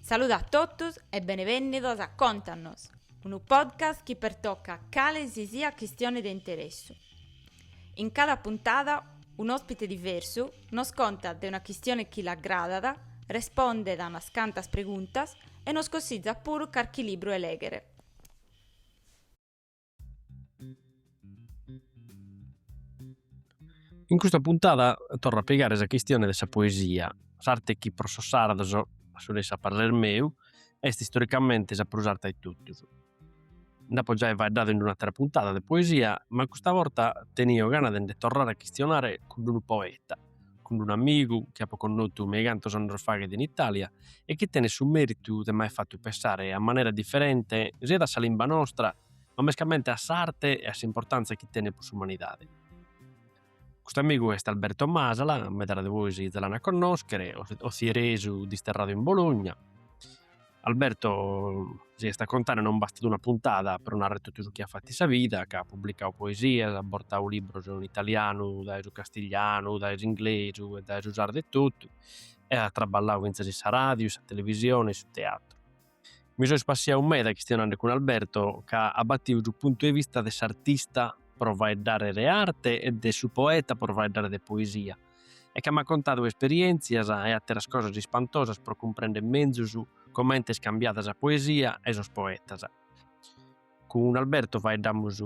Salude a totus e benevènnidos a Contanos, unu podcast chi pertocat cale si siat chistione de interessu. In cada puntada un'òspite diversu nos contat de una chistione chi l'agradat, respondet a unas cantas preguntas e nos cossizat puru carchi libru 'e lèghere. In custa puntada torro a pigare sa chistione de sa poesia, s'arte chi pro sos sardos, a su nessi a parrer meu, est istoricamente sa prus arta 'e totus. Nd'apo giai faeddadu in un'atera puntada de poesia, ma custa borta tenio gana de nde torrare a chistionare cun d'unu poeta. cun unu amigu chi apo connotu me i cantos annos faghet in Italia e chi tenet su meritu de m'aer fatu pensare a manera differente siat a sa limba nostra ma mescamente a s'arte e a s'importanza chi tenet po s'umanidade. Custu amigu est Alberto Masala, medas de bois za l'ant a connoschere, otzieresu disterradu in Bologna, Alberto si est a contare non bastat una puntada pro narrer totu su chi at fatu in sa vida, ca at publicau poesias, at bortau libros in italianu dae su castiglianu, dae s'inglesu e dae su sardu etotu e at traballau fintzas in sa ràdiu, in sa televisione e in su teatru. Mi so ispassiau meda chistionende cun Alberto ca at batiu su puntu 'e vista de s'artista pro faeddare de arte e de su poeta pro faeddare de poesia, e ca m'at contadu esperièntzias e àteras cosas ispantosas pro cumprender menzus comente est cambiada sa poesia e sos poetas. Cun Alberto faeddamus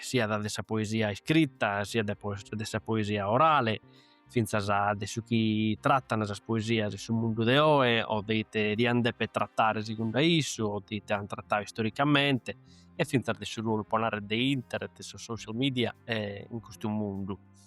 siat de sa poesia iscrita siat de sa poesia orale, fintzas de su chi tratan sas poesias in su mundu de oe o de ite diant deper tratare segundu a issu o de ite ant tratadu istoricamente e fintzas de su ruolu, pro narrer, de internet e sos social media in custu mundu.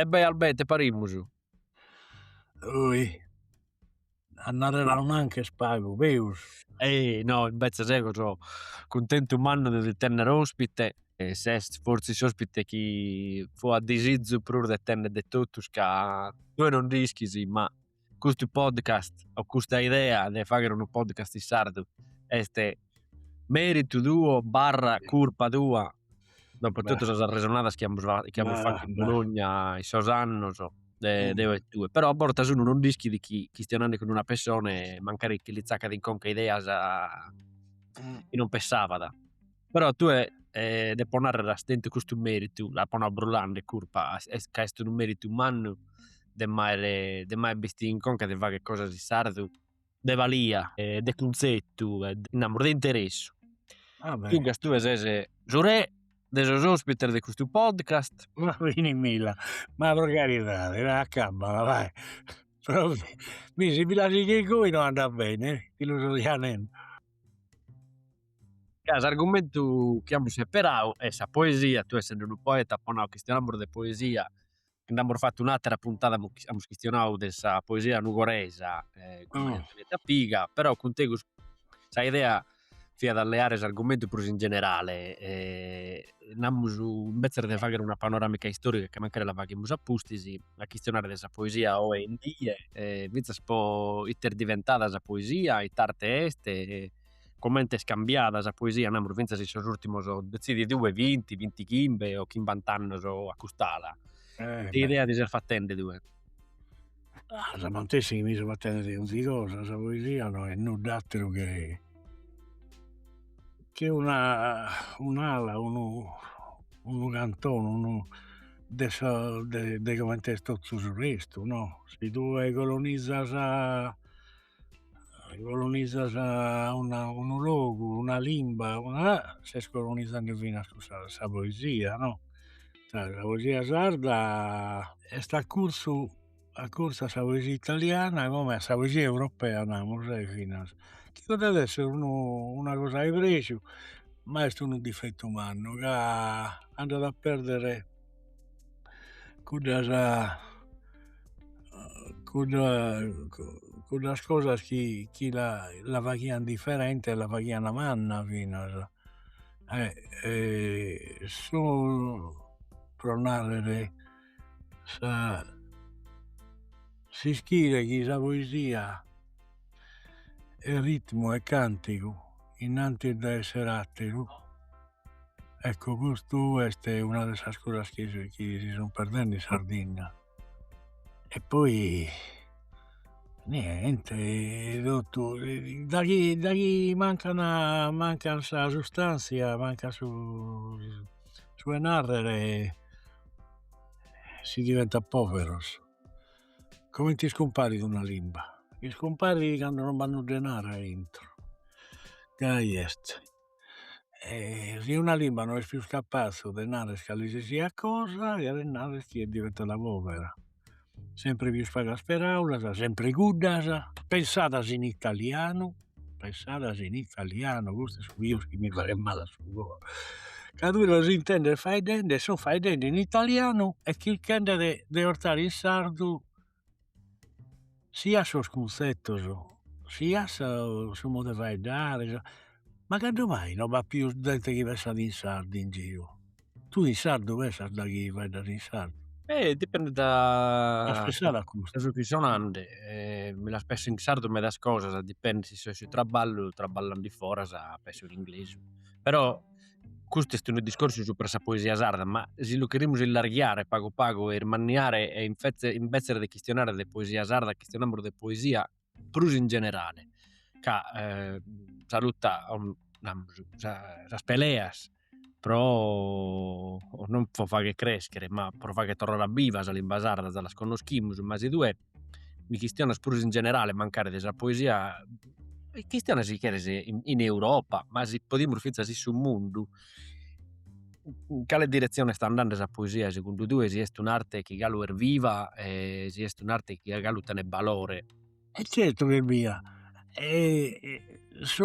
E bè Albè, ite parimus? Oi. A narrer a un'anca est pagu, peus. Ehi no, imbetzes ego so cuntentu mannu de ti tenner ospite, ses fortzis s'ospite chi fua disizu prus de tenner de totus ca tue non nd'ischis ma. custu podcast o custa idea de fagher unu podcast in sardu est meritu tuo barra curpa tua dopo totu sas arresonadas chi amus chi amus fatu in Bologna in sos annos deo e tue però a bortas unu non nd'ischit chi chistionande cun una pessone e mancari chi li tzaccat in conca ideas chi non pessabat Però tue depo narrer as tentu custu meritu, l'apo nau brullanda e curpa ca est unu meritu mannu de m'aer de m'aer bistidu in conca de fagher cosas in sardu de balia e de cunzetu e namus de interessu. Duncas tue ses su re de sos ospites de custu podcast. Ma finimila, ma pro caridade dai acabala dai, Promi', si mi la sighes goi no andat bene, ti lu so già nende. Ca s'argumentu chi amus seperau est sa poesia, tue essende unu poeta apo nau chistionamus de poesia e nd'amus fatu un'atera puntada amus chistionau de sa poesia nugoresa cun Maria Antonietta Piga però cun tegus sa idea fiat a leare s'argumentu prus in generale e namus imbetzes de fagher una panoramica istorica ca mancari la faghimus a pustis a chistionare de sa poesia oe in die e finzas puru ite est diventata sa poesia, ite arte est Comente est cambiada sa poesia, namus fintzas in sos urtimos detzidi tue vinti, vinti chimbe o chimbant'annos a cust'ala. Ite idea ti ses fattende tue? Ah! Sa matessi chi mi so fattende de ogni cosa, sa poesia no est nudd'atteru che che una un'ala, unu unu cantone, unu de sa de comente est tottu su restu no, si tue colonizas Colonizas unu logu, una limba, ses colonizende finas cussa sa poesia no, sa poesia sarda est a curtzu a curtzu a sa poesia italiana comente a sa poesia europea namus e finas, chi podet esser unu una cosa 'e prexu ma est unu difettu mannu ca andat a perdere cuddas cuddas cosas chi chi la la faghian differente e la faghian manna finas e su pro narrer sa s'ischire chi sa poesia est ritmu e cantigu innantis de esser atteru Ecco custu est una de sas cosas chi si sun perdendi in Sardinna e poi niente totu daghi daghi mancan mancan sa sustanzia mancat su su 'e narrer si diventat poveros comente iscumparit una limba iscumparit cando non b'at nudda 'e narrer aintro gai est e si una limba no est pius capaze de narrer calisisiat cosa cheret narrer chi est diventada povera, sempre pius pagas peraulas, sempre cuddas, pensadas in italianu, pensadas in italianu, custu est su pius chi mi faghett male a su coro, ca tue los intendes faeddende e sun faeddende in italianu e chirchende de 'ortare in sardu Siat sos cunzetos siat su modu 'e faeddare, ma cando mai no b'at pius zente chi pensat in sardu in giru, tue in sardu pensas daghi faeddas in sardu? E dipendet da su chi so nande e mi las penso in sardu medas cosas, dipendet si so in su traballu, trabballande in foras penso in inglesu però Custu est unu discorsu supra sa poesia sarda, ma si lu cherimus illarghiare pagu pagu e ismanniare e infetze imbetzes de chistionare de poesia sarda chistionamus de poesia prus in generale ca sa lutta sas peleas pro non pro fagher creschere ma pro fagher torrare a biva sa limba sarda, las connoschimus ma si tue mi chistionas prus in generale mancari de sa poesia, mi chistionas si cheres in Europa, ma si podimus finzas in su mundu, in cale diretzione est andende sa poesia segundu tue, si est un'arte chi galu est viva e si est un'arte chi galu tenet balore. E zertu chi est viva isse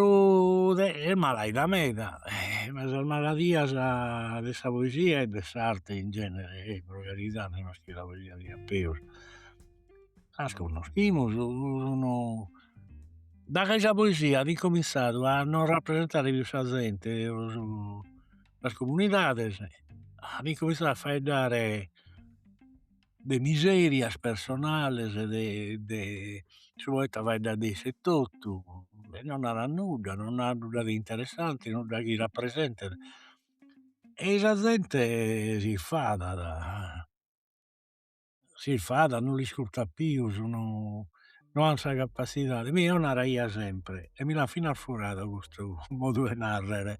est malaida meda e ma sas maladias de sa poesia e de s'arte in genere e pro caridade no est chi sa poesia ada peus las connoschimus sun daghi sa poesia at incominzadu a non rapresentare pius sa zente sas comunidades at incominzadu a faeddare de miserias personales de de su poeta faeddat de isse etotu e non narat nudda non narat nudda de interessante nudda chi rapresentet ei sa zente si infadat s'infadat non l'iscurtat pius no an sa capassidade, mi eo naraia sempre e mi l'an fina furadu custu modu 'e narrer,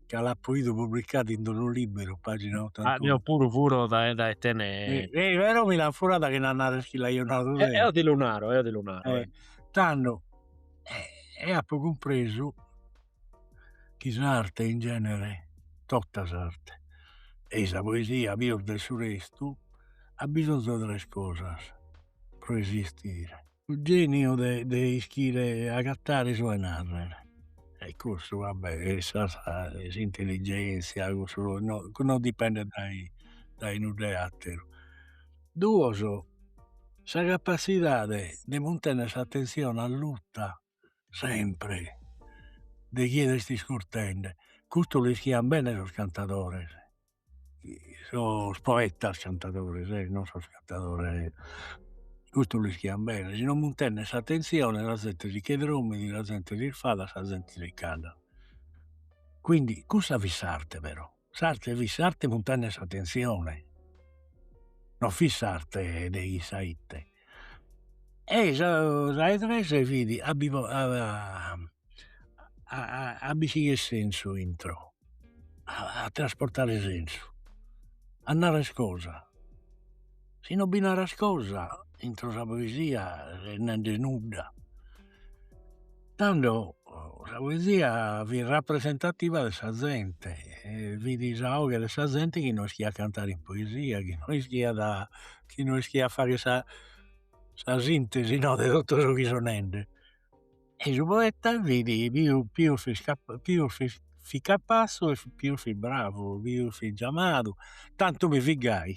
ca l'apo 'idu publicadu in d'unu libberu pagina otantunu. Eo puru furo dae tene. Però mi l'an furada chena narrer chi l'aio nadu deo. Eo ti lu naro, eo ti lu naro. Tando e apo cumpresu chi s'arte in genere, tota s'arte ei sa poesia pius de su restu at bisonzu 'e tres cosas pro esistere, su geniu de de ischire agatare su 'e narrer e cussu vabbè s'intelligenzia cussu non dipendet dai dai nudda 'e atteru, duos sa capazidade de muntenner s'attenzione allutta sempre de chie l'est iscurtende, custu l'ischian bene sos cantadores, sos poetas cantadores e non sos cantadores, custu l'ischian bene, si non muntenes s'attenzione sa zente si che drommit, sa zente si isfadat, sa zente si cansat, quindi cussa fit s'arte però S'arte fit s'arte muntenner s'attenzione, non fit s'arte de chissà ite, e s'àtera es fit a bi a b'istichire sensu intro, a trasportare sensu, a narrer cosas, si non bi naras cosa intro sa poesia nende nudda Tando sa poesia fit rapresentativa de sa zente e fit sa 'oghe de sa zente chi no ischiat cantare in poesia chi no ischiat chi no ischiat fagher sa sa sintesi no de totu su chi sun nende e su poeta fit pius pius fit pius fit fit capassu e pius fit bravu pius fit giamadu tantu no fit gai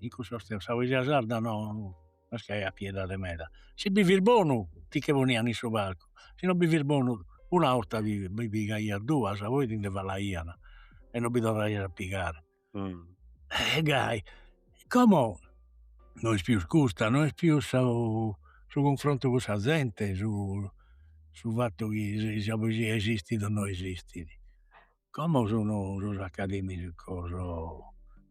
in cussos tempos sa poesia sarda no Est chi aiat piedade meda. Si bi fis bonu ti che ponian in su palcu, si no bi fis bonu una 'orta bi bi pigaias duas, poi ti nde falaian e no bi torraias a pigare. E gai, como no est pius custa, no est pius su su cunfrontu cun sa zente, su su fattu chi si sa poesia esistit o no esistit Como sunu sos academicos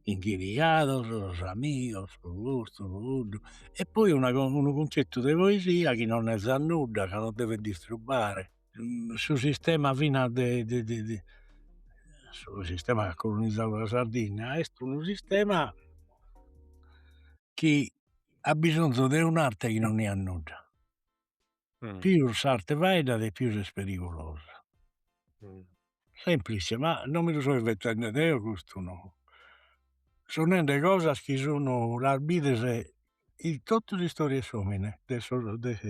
inghiriados, sos amigos, su custu, su cuddu, e poi una unu cunzettu de poesia chi non nezat nudda, ca non devet distrubare su sistema finas de de su sistema chi at colonizadu sa Sardinna, est unu sistema chi at bisonzu de un'arte chi non nezat nudda pius s'arte faeddat e pius est perigulosa, semplice ma non mi lu so inventende deo custu no, so nende cosas chi sun las bides in totu s'istòria 'e s'omine de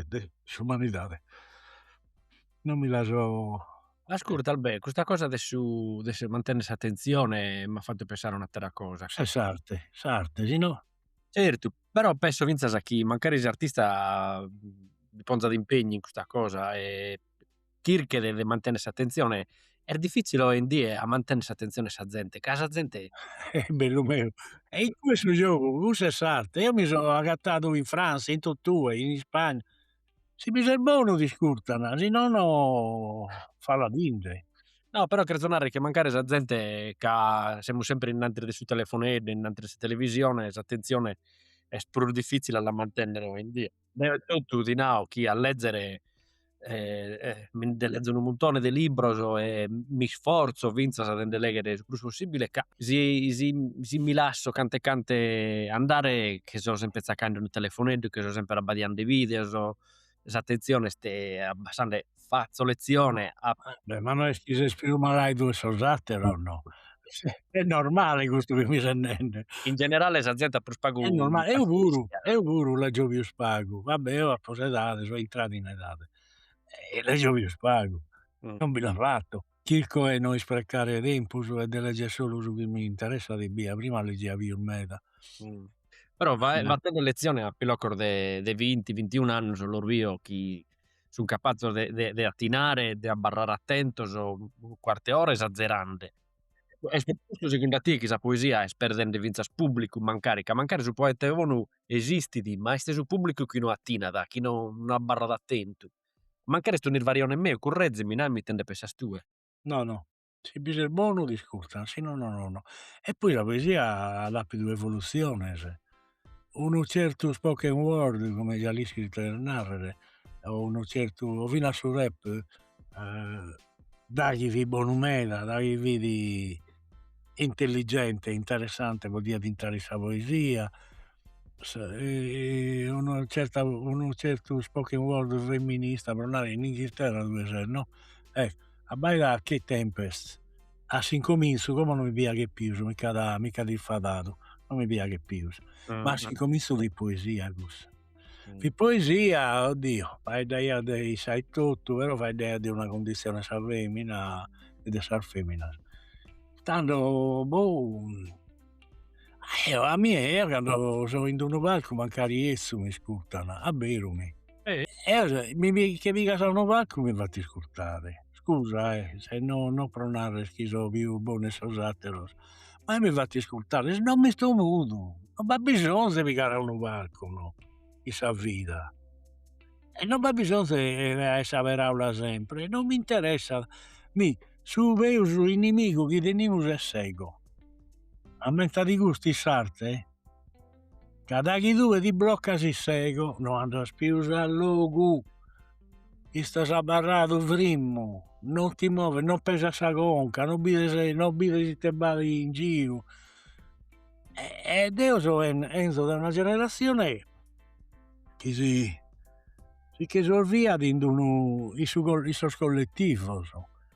de s'umanidade, non mi la so. Ascurta Albe', custa cosa de su de mantenner s'attenzione m'at fatu pensare a un'atera cosa. S'arte, s'arte si no. Zertu però penso finzas chi mancari s'artista bi ponzat impegnu in custa cosa e chirchet de mantenere s'attenzione, est diffizzile oe in die a mantenere s'attenzione 'e sa zente, ca sa zente bellu meu est incue su giogu, cussa est s'arte, eo mi so agattadu in Franza, in totue, in Ispagna si bi ses bonu t'iscurtana, si nono faladinde. No però cherzo narrer che mancari sa zente ca semus sempre innantis de su telefoneddu, innantis de sa televisione, s'attenzione est prus diffizzili a la mantennere oindie. Deo e tottu ti nao chi a lezzere mi nde lezo unu muntone de libbros e mi sforzo finzas de nde leggere su prus possibile ca si si si mi lasso cant'e cantu andare chi so sempre tzaccande unu telefoneddu, chi so sempre abbadiande videos, s'attenzione est abbassande, fatzo letzione a. Beh ma no est chi ses pius malaidu 'e sos ateros no, est normale custu chi mi ses nende. In generale sa zente at prus pagu. Est normale, eo puru, eo puru leggio pius pagu, va bè, eo apo s'edade, so intradu in edade e legio pius pagu, non bi la fatto, chirco 'e no isprecare tempus e de legger solu su chi mi interessat ebbia prima leggia pius meda. Però fattende letzione a piloccos de vinti vintiunu annus los bio chi sun capazzos de attinare de abbarrare attentos cuartu 'e ora esazerande e su chi nd'attiat chi sa poesia est perdende finzas publicu mancari ca mancari su poeta bonu esistit, ma est su pubblicu chi no attinat, chi no abarrat attentu. Mancari est un'isvarione meu, currezimi, nami ite nde pensas tue. No, no. Si bi ses bonu t'iscurtan, si no, no, no, no. E poi sa poesia at apidu evolutziones. Unu certu spoken word, como già l'ischis ite cheret narrer, o unu certu, o finas su rap, daghi fit bonu meda, daghi fit intelligente e interessante podiat intrare in sa poesia unu certa unu certu spoken word femminista pro narrer in Inghilterra tue ses no ecco abbaida Kae Tempest a s'incominzu como no mi piaghet pius mi ch'at mi ch'at infadadu no mi piaghet pius ma a s'incominzu fit poesia cussa Fit poesia, oddio, faeddaiat de issa etotu, però faeddaiat de una cundizione 'e sa femina e de sas feminas. Tando boh eo a mie eo cando so in d'unu palcu mancari 'ezzu m'iscurtan, abberu mi', eo che pigas a unu palcu mi fatt' iscurtare, scusa eh, no pro narrer chi so pius bonu 'e sos atteros ma mi fatto iscurtare, si no m'isto mudu, no b'at bisonzu 'e pigare a unu parcu no, in sa vida, e no b'at bisonzu 'e sa peraula sempre, non mi interessat, mi su peus inimigu chi tenimus est s'ego, ammentadi custu in s'arte Ca daghi tue ti bloccas in s'ego no andas pius a logu istas abarradu frimmu non ti moves non pesas sa conca non bides ite b'at in giru e deo so 'enzo dae una generazione chi si che isolviat in unu in sos colletivos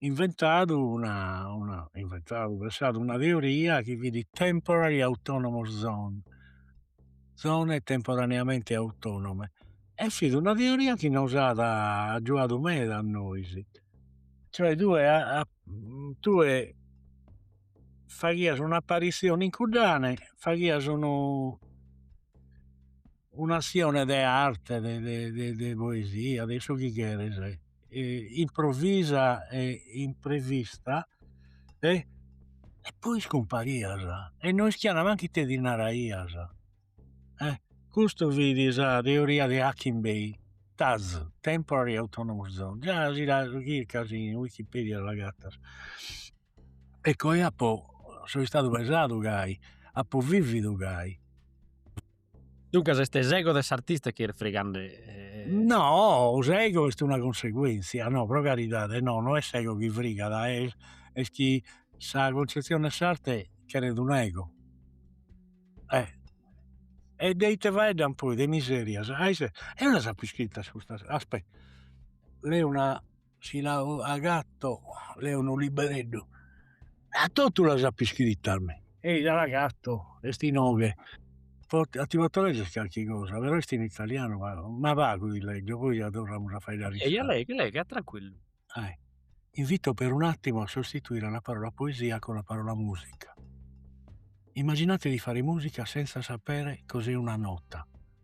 inventadu inventadu pensadu una teoria chi fit temporary autonomous zone zone temporaneamente autonome e fit una teoria chi nos at agiuadu meda a nois cioè tue tue faghias un'apparizione in cuddane faghias unu un'azione de arte de poesia de su chi cheres improvvisa e imprevista e poi iscumparias e no ischiana mancu ite ti naraias e custu fit sa teoria de Hakim Bey Taz Temporary Autonomous Zone già si la chircas in wikipedia l'agatas ecco apo so istadu pesadu gai, apo vividu gai. Duncas est s'ego de s'artista chi est fregande. No s'ego est una conseguentzia, no pro caridade, no no est s'ego chi frigat, est chi sa concezione 'e s'arte cheret un'ego e de ite faeddan poi de miserias, eo las apo iscritas custas, aspetta leo una si l'agatto leo unu libereddu a totu las apo iscritas mi, ei l'agatto est inoghe, fortzis ti potto leggere calchi cosa, però est in italianu ma pagu ti leggio poi la torramus a faeddare in sardu. Leghe leghe tranquillu. Invito per un attimo a sostituire la parola poesia con la parola musica. Immaginate di fare musica senza sapere cos'è una nota,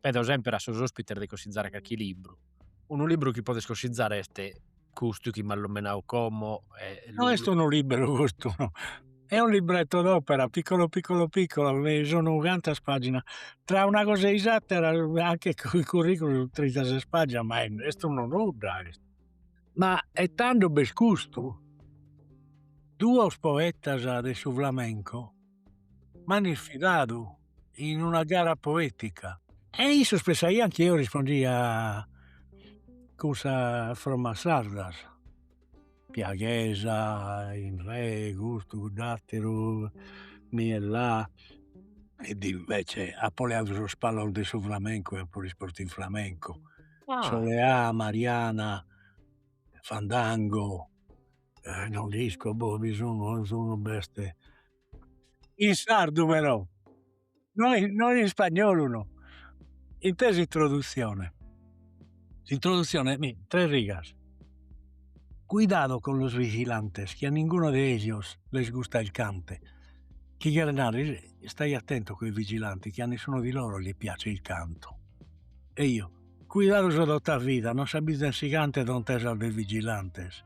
Pedo semper a sos ospites de cossizare carchi libru. Unu libru chi podes cossizare est custu chi m'as lomenadu como. No est unu libberu custu no. Est unu libretto d'opera piccolo piccolo piccolo chi sun cantas paginas, tra una cosa e s'atera anche cun su curriculum trinta ses paginas ma est unu nudda custu. Ma e tando b'est custu. Duos poetas de su flamenco. M'ant sfidadu in una gara poetica. E issos pensaian chi eo rispondia cun sas fromas sardas, piaghesa, in re, custu, cudd'ateru, mi e la, ed invece apo leadu sos palos de su flamenco e apo rispostu in flamenco, soleà, mariana, fandango eh non nd'isco boh bi sun non sun b'est in sardu però no no in ispagnolu no b'est s'introdutzione s'introdutzione mi tres rigas cuidado con los vigilantes que a ninguno de ellos les gusta el cante chi cheret narrer stai attento coi vigilanti che a nessuno di loro gli piace il canto e io cuidadoso tota vida non s'abbizan si canto dontesas de vigilantes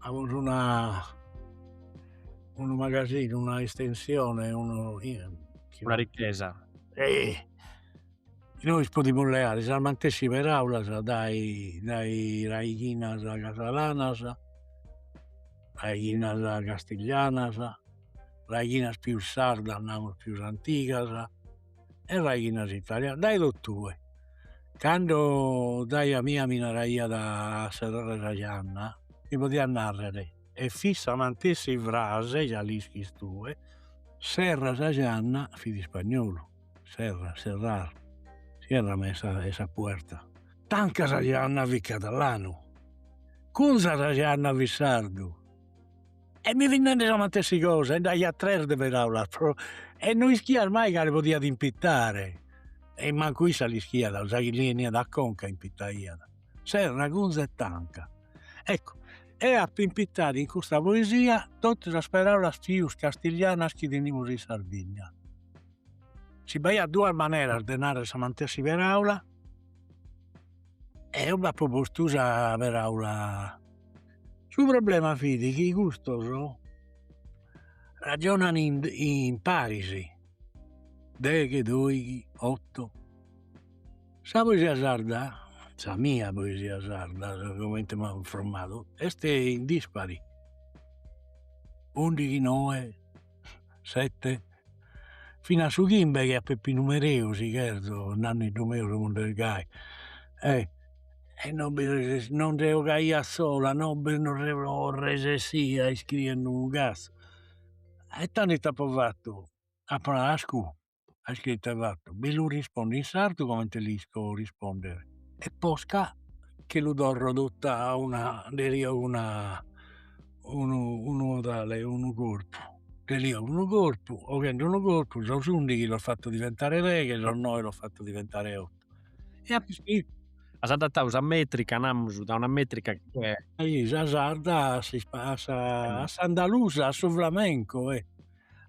amus una unu magasinu, una istensione, unu una ricchesa e nois podimus leare sas matessi paraulas dai dai raighinas catalanas, raighinas castiglianas, raighinas pius sardas, namus pius antigas e raighinas italianas dae totue cando giaia mia mi naraiat a serrare sa gianna mi podiat narrer e fit sa mantessi frase già l'ischis tue serra sa gianna fit ispagnolu serra serrar cierrame esa puerta tanca sa gianna fit catalanu cunza sa gianna fit sardu E mi fit nendi sa mantessi cosa, e nd'aiat tres de peraulas pro e no ischiat mai cale podiat impitare, e mancu issa l'ischiat, sa chi li 'eniat a conca impitaiat, serra, cunza e tanca, eccu e apo impitadu in custa poesia totu sas peraulas pius castiglianas chi tenimus in Sardigna, si b'aiat duas maneras de narrer sa mantessi peraula, eo b'apo postu sa peraula Su problema fit chi custos ragionan in paris, deghe doighi otto, sa poesia sarda, sa mia poesia sarda comente m'at frommadu est in dispari, undighi noe sete fin'a su chimbe che a Peppinu Mereu si cherzo nanneddu meu su mundu est gai e e non bi resess non nde 'ogaia sola no bi no resessia iscriende unu cazzu e tando ite apo fattu apo nadu ascù a iscritu e fattu, bi lu rispondo in sardu comente l'isco rispondere, e posca che lu torro totu a una una unu modale, unu corpu, de lì a unu corpu, 'oghende unu corpu, sos undighi los fatto diventare deghe, sos noe los fatto diventare otto e apo iscritu. As adattadu sa metrica, namus, da una metrica che. Sa sarda a s'ispa a sa a s'andalusa, a su flamenco e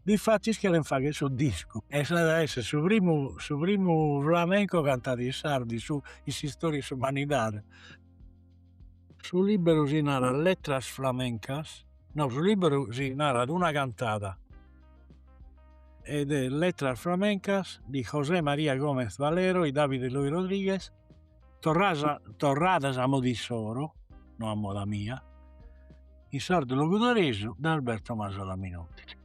difatis cheren fagher su discu e s'at a esser su primu su primu flamenco cantadu in sardu in su in s'istoria 'e s'umanidade. Su libberu si narat letras flamencas, no su libberu si narat una cantada ed est letras flamencas di José María Gómez Valero e David Eloy Rodríguez Torradas a moda issoro, no a moda mia, in sardu logudoresu de Alberto Masala Minotti.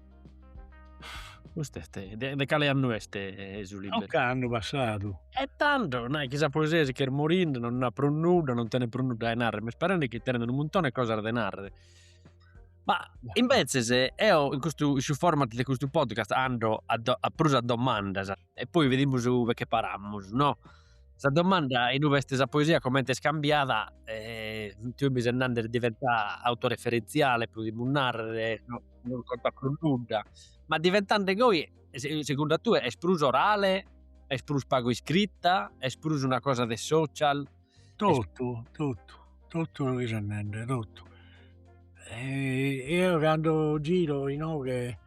Cust'est, de de cale annu est su libru? Ocannu passadu. E tando, nai chi sa poesia si ch'est morinde, non at prus nudda, non tenet prus nudda de narrer, m'est parende chi tenet unu muntone 'e cosas de narrer. Ma imbetzes eo in custu, in su format de custu podcast ando a prus a domandas. e poi vidimus ue che paramus no. Sa domanda inue est sa poesia comente est cambiada e tue mi ses nande est diventada autoreferentziale podimus narrer no non contat prus nudda, ma diventende goi segundu a tue est prus orale, est prus pagu iscrita, est prus una cosa de social? Totu totu totu su chi ses nende totu eo cando giro inoghe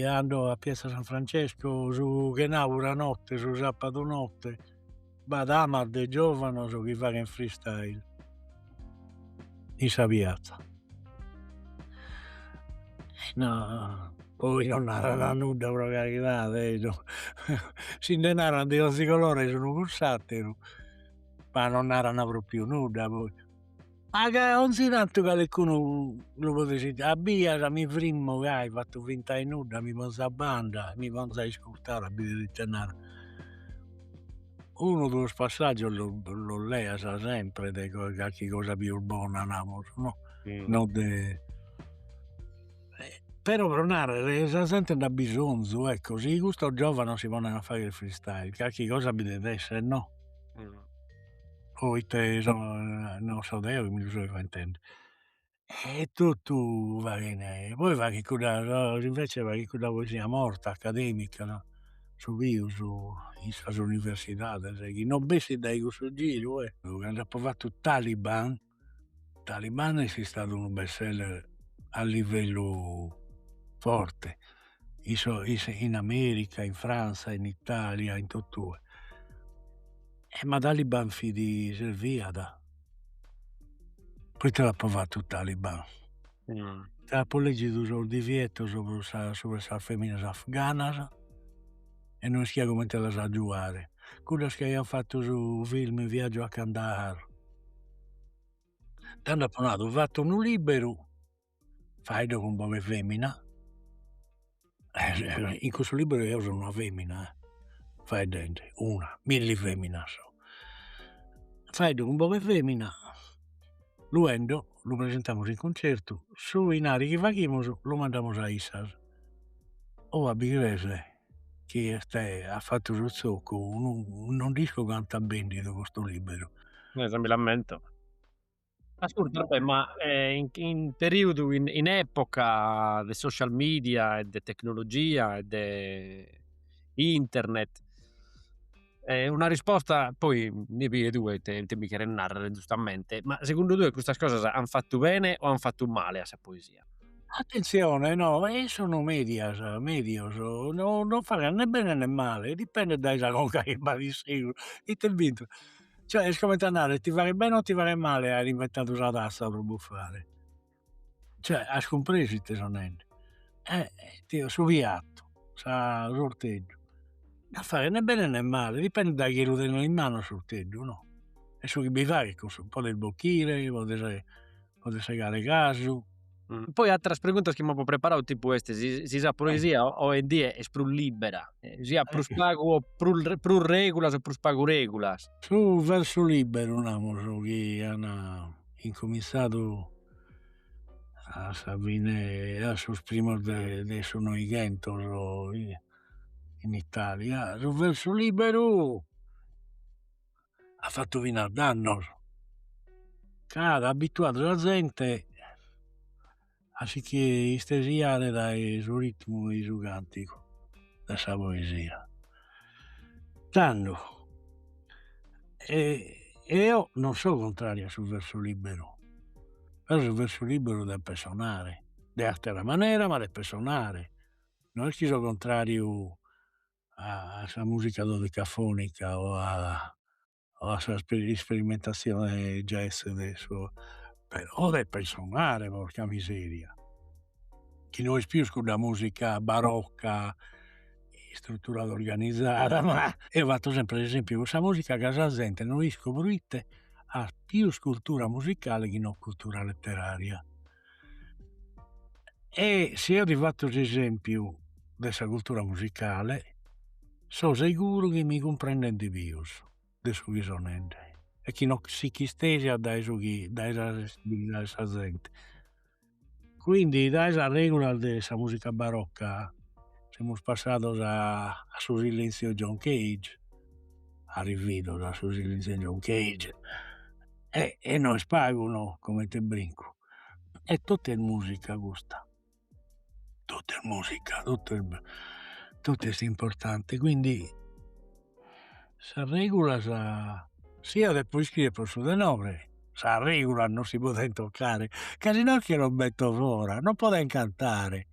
ando a piazza San Francesco su chenapura notte, su sapadu notte b'at amas de giovanos chi faghen freestyle in sa piazza poi non narana nudda pro caridade si nde naran de 'onzi colore s'unu cun s'ateru ma non narana propriu nudda poi Ma ca 'onzi tantu caleccunu lu podet sentire, a bias mi frimmo gai fatto finta 'e nudda, mi ponzo a banda e mi ponzo a iscurtare a bidere ite narat, unu duos passaggios los leas sempre de carchi cosa pius bona namus no, no de però pro narrer sa zente nd'at bisonzu ecco, si custos giovanos si poneno a fagher freestyle carchi cosa bi devet esser no poite non so deo chi mi lu so inventende e totu faghen e poi faghen cudda invece faghen cudda poesia morta academica no su pius in sas universidades chi non bessit dae cussu giru e cando apo fattu Taliban Taliban est istadu unu best seller a livellu forte in sos in America, in Franza, in Italia, in totue. E ma Taliban fit, serviat, poite l'apo fatu Taliban? Apo leggidu sos divietos subra sas feminas afganas e no ischia comente las agiuare, cuddas chi aian fattu su film Viaggio a Kandahar, tando apo nadu fatto unu liberu faeddu cun boghe 'e femina in custu liberu eo so una femina eh, faeddende una, milli feminas so, faeddu cun boghe 'e femina luego lu presentamus in cuncertu, su inari chi faghimus lu mandamus a issas, oh a bi crees chi est a fattu su zocu non nd'isco cantu at bendidu custu liberu. Si, mi l'ammento. Ascurta Roberto ma in periudu in epoca de social media e de tecnologia e de internet E una risposta poi nde pigas tue ite ite mi cheres narrer giustamente, ma segundu tue custas cosas an fattu bene o an fattu male a sa poesia? Attenzione no, issos sunu medias, medios, no no faghen né bene né male, dipendet dae sa conca chi b'at in segus, ite est bintu, cioè est comente a narrer ti faghet bene o ti faghet male aer inventadu sa tassa pro buffare Cioè as cumpresu ite so nende eh o su piattu sa s'orteddu no faghet né bene né male dipendet dae chie lu tenet in manu s'orteddu no e su chi bi faghes cun issu podes bochire podes podes segare casu. Poi atteras preguntas chi mi apo preparadu tipu est si si sa poesia oe in die est prus libera si at prus pagu o prus regulas o prus pagu regulas. Su versu liberu namus chi an incominzadu a sa fine a sos primos de su Noighentos in Italia, su versu liberu at fattu finas dannos ca at abituadu sa zente A si che istesiare dae su ritmu 'e su cantigu de sa poesia. Tando eo non so contrariu a su versu liberu, però su versu liberu depet sonare de attera manera, ma depet sonare, no est chi so contrariu a sa musica dodecafonica o a a sa isperimentatzione jazz de como però depet sonare porca miseria, chi no est pius cudda musica barocca istruturada organizada ma eo fatto sempre s'esempiu cun sa musica ca sa zente no isco proite at pius cultura musicale chi non cultura letteraria E si eo ti fatto s'esempiu de sa cultura musicale, so seguru chi mi cumprendent pius de su chi so nende e chi no si ch'istesiat dae su chi dae sa sensibilidade de sa zente, quindi dae sas regulas de sa musica barocca semus passados a su silenzio John Cage arrividos a su silenzio John Cage e e no est pagu no, comente brincu, e totu est musica custa, totu est musica, totu est totu est importante, quindi sas regulas sia de pro iscriere pro su tenore, sas regulas non si podent toccare, ca si no che los betto fora, non podent cantare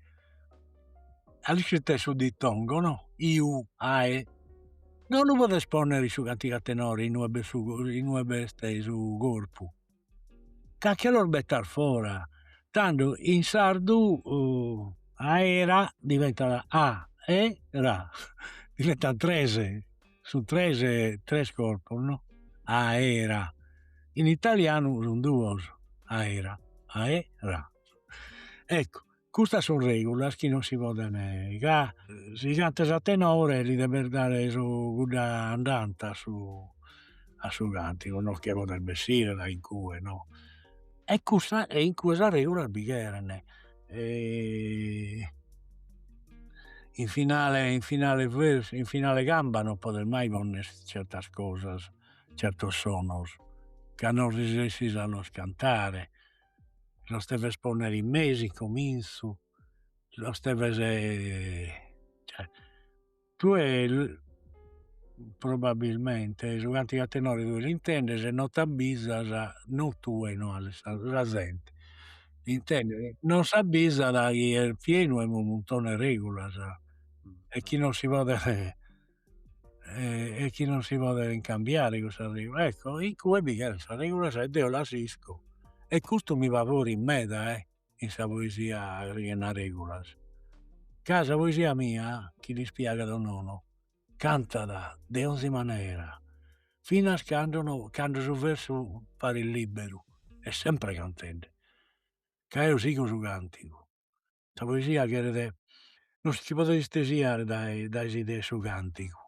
a l'ischis ite su dittongo no iu ae no lu podes ponnere in su cantigu a tenore in ue b'est su corpu ca che los bettas fora tando in sardu aera diventat a e ra diventan tres sun tres tres corpos no aera in italianu sun duos aera ae ra ecco Custas sun regulas chi non si poden ca si cantas a tenore li depes dare su cudda andanta a su a su cantigu no che podes bessire da incue no e custa e incue sas regulas bi cheren in finale in finale in finale 'e camba non podes mai ponner certas cosas certos sonos ca non resessis a los cantare los deves ponnere in mesu in cominzu, los deves cioè tue probabilmente su cantigu a tenore tue l'intendes e non t'abbizas, non tue no alle sa sa zente l'intendet, non s'abbizat chi est pienu 'e unu muntone 'e regulas e chi non si podet e chi non si podent cambiare cussas regolas, ecco incue bi cherent sas regolas e deo las isco e custu mi favorit meda eh in sa poesia chi chena sas regolas, ca sa poesia mia chi lis piagat o nono cantat de 'onzi manera finas cando no cando su versu paret liberu est sempre cantende ca eo sigo su cantigu Sa poesia cheret, no si nche podet istesiare dae dae s'idea 'e su cantigu,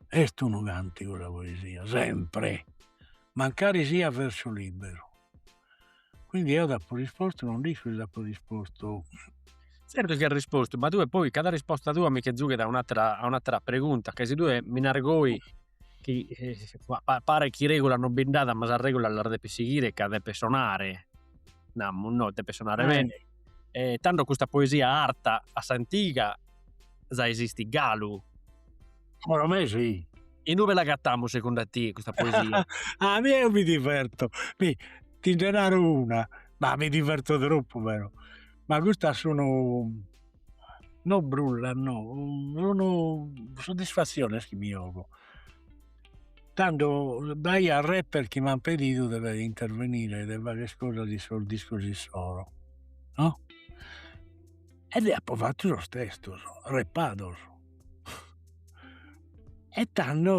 est unu cantigu sa poesia, sempre, mancari siat versu libberu, quindi eo t'apo rispostu, non nd'isco si t'apo rispostu. Zertu chi as rispostu, ma tue poi cada risposta tua mi nche zughet a un'atera a un'atera pregunta, ca si tue mi naras goi Chi paret chi regulas non bi nd'at ma sas regulas las depis sighire ca depes sonare, namus no, depes sonare bene e tando custa poesia arta a s'antiga ja esistit galu. Pro me si. Inube l'agatamus segundu a tie custa poesia? A mie eo mi diverto, mi ti nde naro una, ma mi diverto tropu però, ma custas sun No brulla no, sun soddisfasciones chi mi 'ogo, tando b'aiat rapper chi m'an pedidu de de intervenire de fagher sas cosas in sos discos issoro no, e deo apo fattu sos testos repados e tando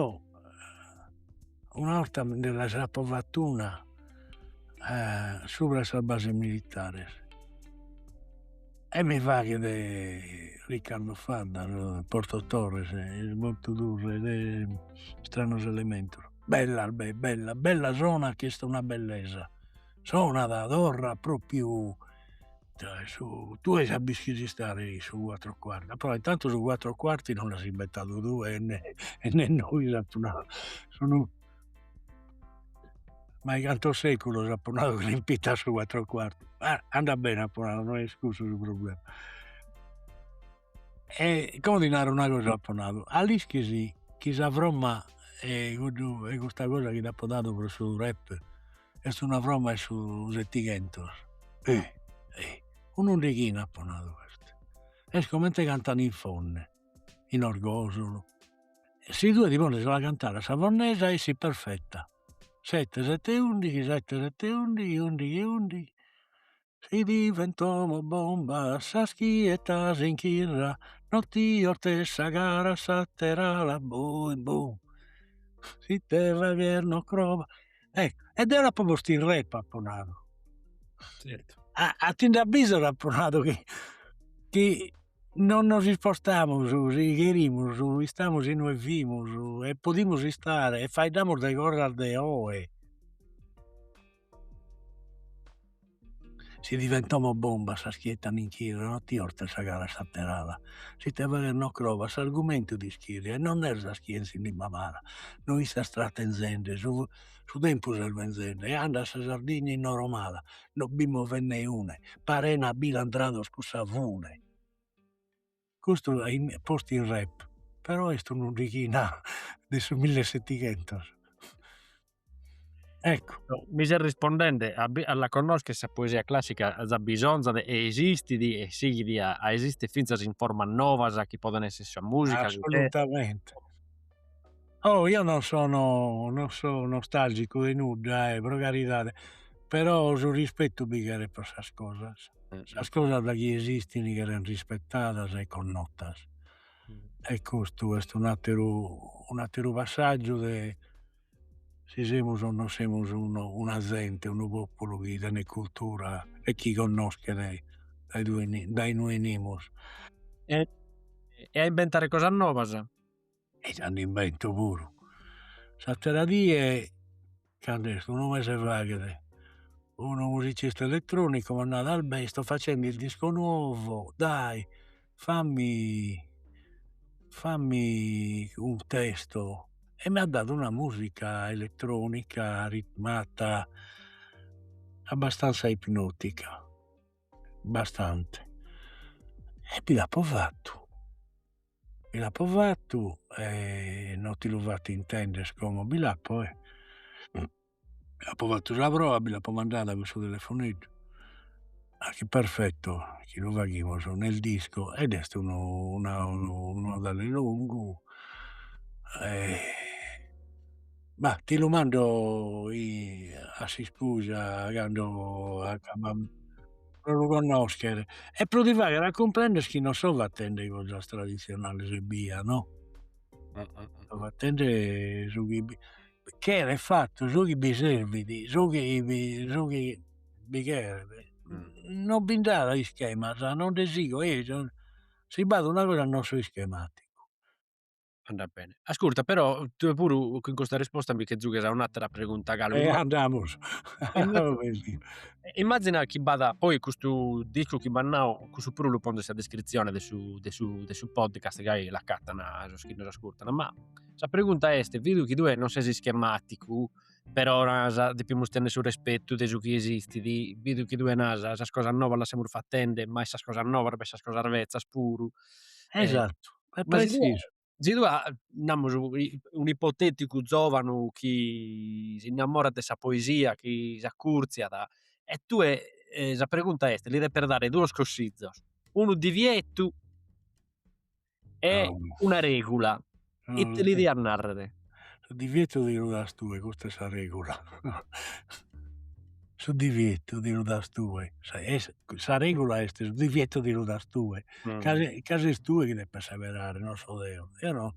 una 'orta nde lis apo fattu una subra a sas bases militares E mi faghet Riccardo Fadda, Porto Torres, est Portu Turres de Istranos Elementos, bellas be bellas, bella sonat chi est una bellesa, sonat, torrat propriu ita su, tue ja b'ischis istare in su cuatro cuarti, però intantu su cuatro cuarti non l'as inventadu tue e nè e nè nois apo nau, sun mai cantos seculos apo nadu chi l'impitan su cuatro cuarti, ma andat bene apo nadu no est cussu su problema e como ti naro una cosa apo nadu, a l'ischis chi sa fromma 'e cuddu 'e custa cosa chi t'apo dadu pro su rap est una fromma 'e su setighentos un'undighina apo nadu est comente cantan in Fonne in Orgosulu si tue ti pones a cantare a sa fonnesa essit perfetta, sette sette undighi sette sette undighi undighi undighi si bivent como bombas sas chi 'ettan in Chirra no ti 'ortes sa cara a s'ater'ala bum bum si ite fagher non crobas, ecco e deo l'apo postu in rap apo nadu a ti nde abbizas apo nadu chi chi non nos ispostamus si cherimus istamus inue fimus e podimus istare e faeddamus de cosas de oe si bivent como bombas sas chi 'ettan in Chirra non ti 'ortes sa cara a s'ater'ala si ite fagher non crobas s'argumentu t'ischirriat non lerzas chie in s'inimma amara no istas tratenzende su su tempus est benzende e andat sa Sardigna innoromala no b'immo fennè une parena bi l'an tiradu cussa fune custu est postu in rap però est un'undighina de su mille e setighentos ecco. Mi ses rispondende a la connoschere sa poesia classica ja bisonzat e esistit e sighit a a esistere finzas in formas novas chi poden esser sa musica, assolutamente Oh io non sono non so nostalgicu 'e nudda eh, pro caridade, però su rispettu bi cheret pro sas cosas, sas cosas da chi esistin cheren rispettadas e connottas e custu est un'atteru un'atteru passaggiu de si semus o non semus una zente, unu populu chi tenet cultura e chi connoschet dae due dae inue 'enimus e a inventare cosas nobas e nd'invento puru. S'attera die candu est unu mese faghet unu musicista elettronicu m'at nadu Albè sto facendo il disco nuovo dai fammi fammi un testo e m'at dadu una musica elettronica ritmata abbastanza ipnotica abbastante e bi l'apo fattu bi l'apo fattu e no ti lu fatto intender como bi l'apo e bi l'apo fattu sa proa bi l'apo mandada cun su telefoneddu a chi perfetto chi lu faghimus nel disco ed est unu unu 'odale longu Ma ti lu mando a s'iscusa cando acabbamus pro lu connoscher e pro ti fagher a cumprender chi non so fatende cosas tradizionales ebbia no so fatende su chi bi cheret fattu su chi bi servit su chi bi su chi bi cheret non bi nd'at ischemas non nde sigo eo si b'at una cosa non so ischematicu Andat bene. Ascurta, però, tue puru in custa risposta mi che zughes a un'atera pregunta galu. E andamus. Immazina chi b'at, poi custu discu chi m'as nau, cussu puru lu ponzu in sa descritzione de su de su de su podcast gai l'acatana sos chi nos ascurtana. Ma sa pregunta est, vidu chi tue non ses ischematicu, però nasa, depimus tenni su respetu de su chi esistidi, vidu chi tue nasa, sas cosas nobas las semus fattende, ma sas cosas nobas, ma sas cosas vezzas puru. Esattu. si tue namus un'ipoteticu giovanu chi s'innamorat de sa poesia chi s'accurtziat e tue sa pregunta est li depes dare duos consizos unu divietu e una regula ite li dias narrer su divietu ti lu das tue, custa est sa regula su divietu ti lu das tue, sa regula est su divietu ti lu das tue, ca ca ses tue chi depes seberare, non so deo, eo no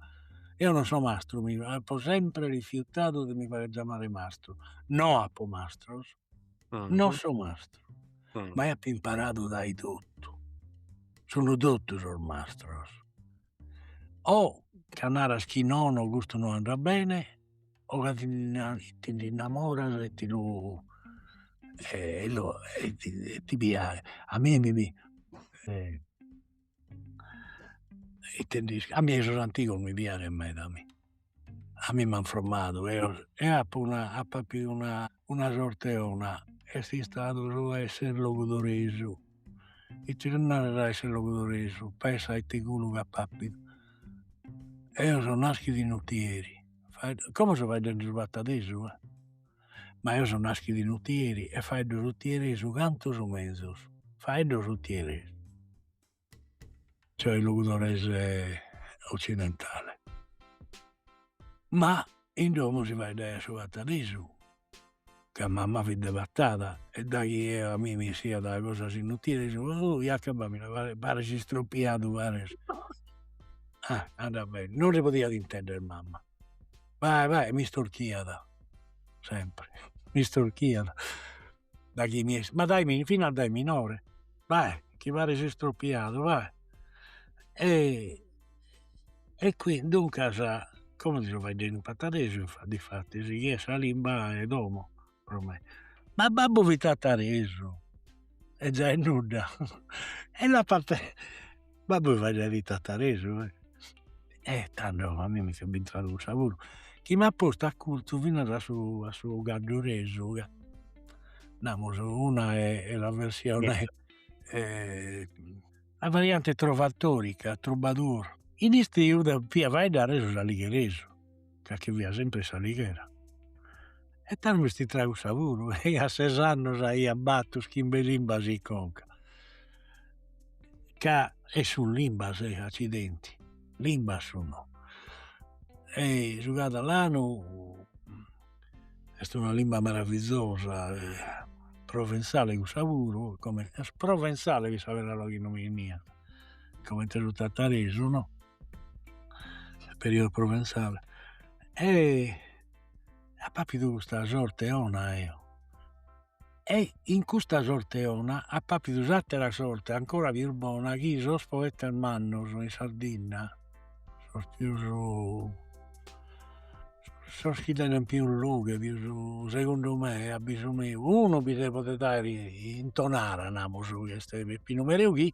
eo non so mastru mi apo sempre rifiutadu de mi fagher giamare mastru, no apo mastros, non so mastru, ma eo apo imparadu dae totu, sun totu sos mastros o ca naras chi nono custu no andat bene o ca ti nde innamoras e ti lu e lu e ti piaghet, a mie mi piaghet ite nd'isco eh a mie sos antigos mi piaghen meda a mi A mi m'an fromadu e apo appidu una sorte 'ona, est istadu su a esser logudoresu, ite naras a esser logudoresu, pensa a ite culu chi apo appidu, eo so naschidu in Otieri, como so faeddende su patadesu eh, ma eo so naschidu in Otieri e faeddo s'otieresu cantu sos mezus, faeddo s'otieresu cioè logudoresu occidentale ma in domo si faeddaiat su patadesu ca mamma fit de Patada e daghi eo a mie mi 'essiat cosas in utieresu Iaca Bamia pares istropiadu pares ah andat bene non si podiat intender mamma vai vai e m'istorchiat sempre m'istorchiat daghi mi 'es, ma dai finas a dai minore, vai chi pares istropiadu vai e e qui duncas como so faeddende in patadesu difatis chi est sa limba 'e domo pro me, ma babbu fit tataresu e già est nudda e l'apo babbu faeddaiat tataresu e e tando a mie mi fit bintradu cussa puru chi m'at postu acurzu finas a su a su cadduresu ca namus una est la versione la variante trovatòrica, troubadour, in istiu devia faeddare su s'aligheresu ca chi fia sempre in s'Alighera e tando m'est intradu cussa puru e a ses annos aia battu chimbe limbas in conca ca e sun limbas e accidenti limbas sun no e su cadalanu est una limba maravizosa provenzale cussa puru comente est provenzale fit sa peraula chi non mi 'eniat comente su tataresu no su periodo provenzale e apo appidu custa sorte 'ona eo e in custa sorte 'ona apo appidu s'attera sorte ancora pius bona chi sos poetas mannos in Sardinna sos pius sos chi tenent pius lughe pius segundu me e abbisu meu unu bi si podet aer in Tonara namus chi est Peppinu Mereu chi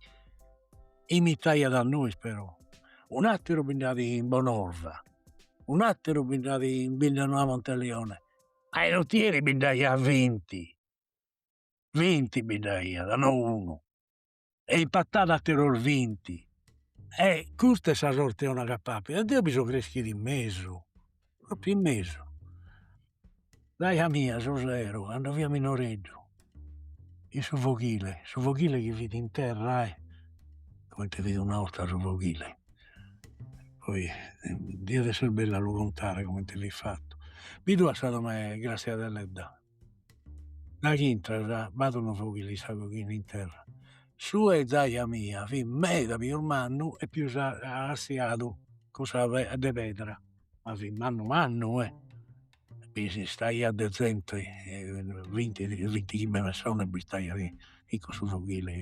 imitaiat a nois però, un'ateru bi nd'at in Bonorva, un'ateru bi nd'at in Bidda Noa Monteleone, a in Otieri bi nd'aiat vinti, vinti bi nd'aiat no unu, e in Pattada ateros vinti, e custa est sa sorteona chi apo appidu e deo bi so creschidu in mesu Propriu in mesu. Zaja mia su sero cando fia minoreddu in su foghile, su foghile chi fit in terra eh, comente fit una 'orta su foghile, poi diat esser bellu a lu contare comente fit fattu, bidu as sa domo 'e Grazia Deledda Daghi intras b'at unu foghile in sa coghina in terra. Su 'e zaja mia fit meda pius mannu e pius assiadu cussa de pedra, ma fit mannu mannu eh! Bi si istaiat de zente vinti vintichimbe pessones b'istaiat in cussu foghile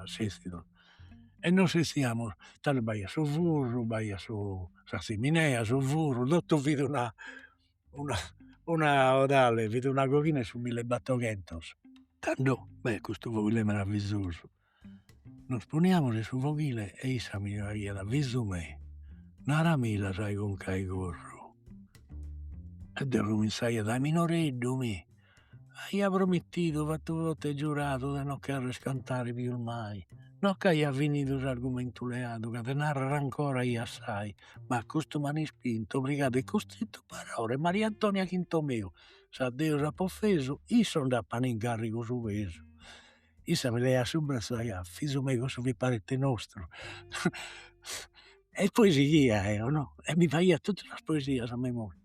a s'estidu e nois istaiamus, tando b'aiat su furru, b'aiat su sa tzimineia, su furru, totu fit una una 'odale fit una coghina 'e su millebattoghentos tando beh custu foghile meravizosu, nos poniamus in su foghile e issa mi naraiat fizu meu naramilla sa 'e conca 'e corru e deo cominzaia dai minoreddu mi Aia promittidu fattu votu e giuradu de no cherrer cantare pius mai no ch'aia finidu s'argumentu leadu ca de narrere ancora aia assai ma a custu m'an ispintu obrigadu e costrittu Barore Mariantonia Chinto meu s'a Deus apo offesu issos nd'appan in garrigu su pesu issa mi leaiat su brazzu e naiat fizu meu cussu fit parente nostru e poi sighiat eo no e mi faghiat totu sas poesias a memoria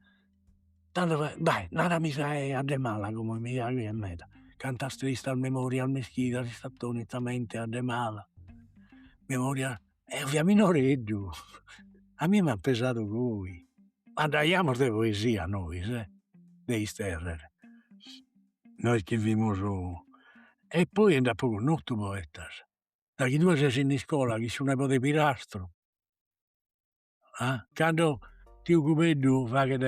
tando faghet, dai narami sa 'e Addemala como mi piaghiat meda, cantas tristas memorias m'ischidas in s'attonita mente Addemala, memorias, eo fia minoreddu a mie m'at pesadu goi, andaiamus de poesia nois e de isterrer nois chi fimus e poi e nd'apo connotu poetas, daghi tue ses in iscola chi su nebode 'e Pirastru a cando tiu Cubeddu faghet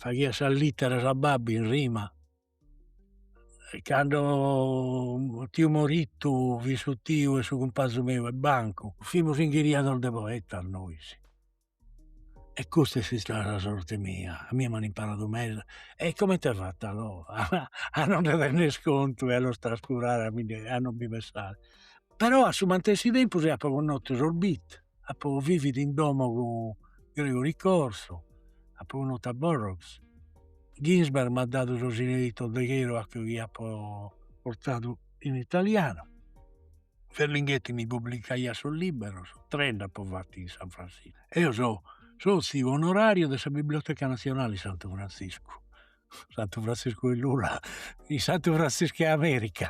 faghiat sas litteras a babbu in rima e cando tiu Morittu fit su tiu 'e su cumpanzu meu 'e bancu, fimus inghiriados de poetas nois e custa est istada sa sorte mia, a mie m'an imparadu meda e comente fatto a no a no nde tenner contu e a los trascurare a mi nde a non bi pensare, però a su mantessi tempus apo connotu sos beat apo vividu in domo cun Gregory Corso, apo connotu a Burroughs, Ginsberg m'at dadu sos inedittos de Kerouac chi apo portadu in italianu, Ferlinghetti mi publicaiat sos libberos, tres nd'apo fattu in San Francisco e so sotziu onorariu de sa Biblioteca Nazionale 'e Santu Frantziscu, Santu Frantziscu 'e Lula, Santu Frantziscu 'e America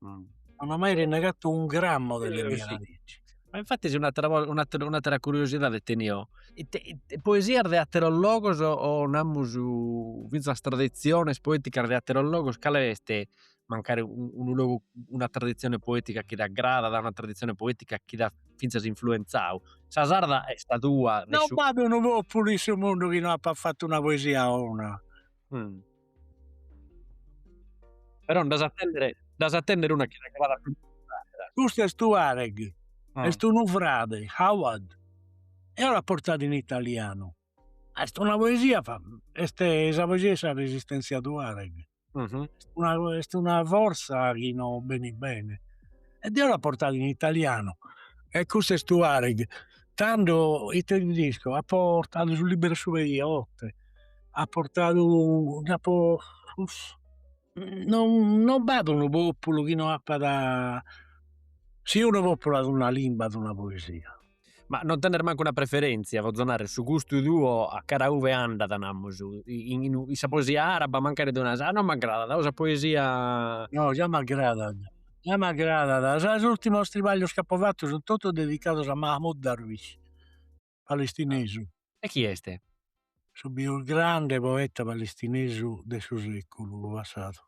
Non ho mai rinnegato un grammo delle mie radici. Ma infatti un'attera cosa, un'attera, un'attera curiosidade tenio, ite, ite poesias de atteros logos o namus finzas tradiziones poeticas de atteros logos, cale est mancari unu logu, una tradizione poetica chi t'aggradat, una tradizione poetica chi t'at finzas influenzadu. Sa sarda est sa tua. Non b'at unu populu in su mundu chi no apat fatu una poesia 'ona Però nd'as a tènnere, nd'as a tènnere una chi t'aggradat prus de s'àtera. Custu est Tuareg, est unu frade, Hawad. Deo l'apo portada in italianu. Est una poesia, est sa poesia 'e sa resistèntzia Tuareg. Est una fortza chi no benit bene. E deo l'apo portada in italianu. E custu est Tuareg. Tando, ite tedescu, apo portadu su libru 'e su pei 'e 'ote. apo portadu, nd'apo non b'at unu populu chi no apat, si unu populu at una limba at una poesia. Ma non tenes mancu una preferentzia, potzo narrer, su gustu tuo a cara ue andat namus, in sa poesia araba mancari tue naras, no m'agradat, o sa poesia. No già m'agradat, già m'agradat, sos ultimos tribaglios chi apo fatu sun totu dedicados a Mahmud Darwish palestinesu. E chi est? Su pius grande poeta palestinesu de su seculu passadu,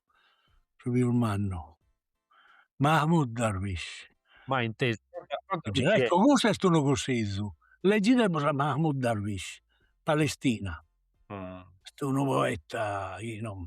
su pius mannu, Mahmoud Darwish. Ma in te. Ecco, cussu est unu cussizzu, leggidemus a Mahmoud Darwish, Palestina. Est unu poeta chi non.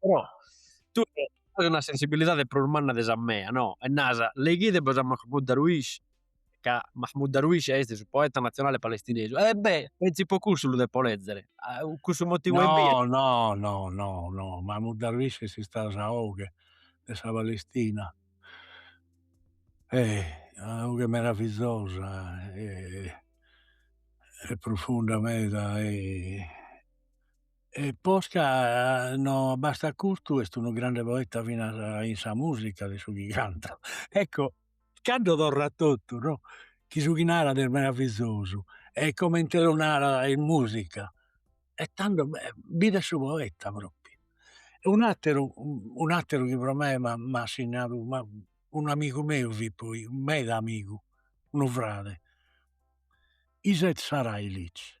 però tue as una sensibilidade prus manna de sa mea no e naras leghide bois a Mahmoud Darwish ca Mahmoud Darwish esti su poeta nazionale palestinesu e beh pentzu po cussu lu depo lezere cussu motivu no no no no no Mahmoud Darwish esti istadu sa 'oghe de sa Palestina eh una 'oghe meravizosa e profunda meda e E posca no bastat custu est unu grande poeta fina in sa musica de su chi cantat ecco cando torrat totu no chi su chi narat est meravizosu e comente lu narat in musica e tando bè bidet su poeta propriu e un'ateru un'ateru chi pro me m'at signadu un'amigu meu fit poi meda amigu unu frade Izet Sarajlić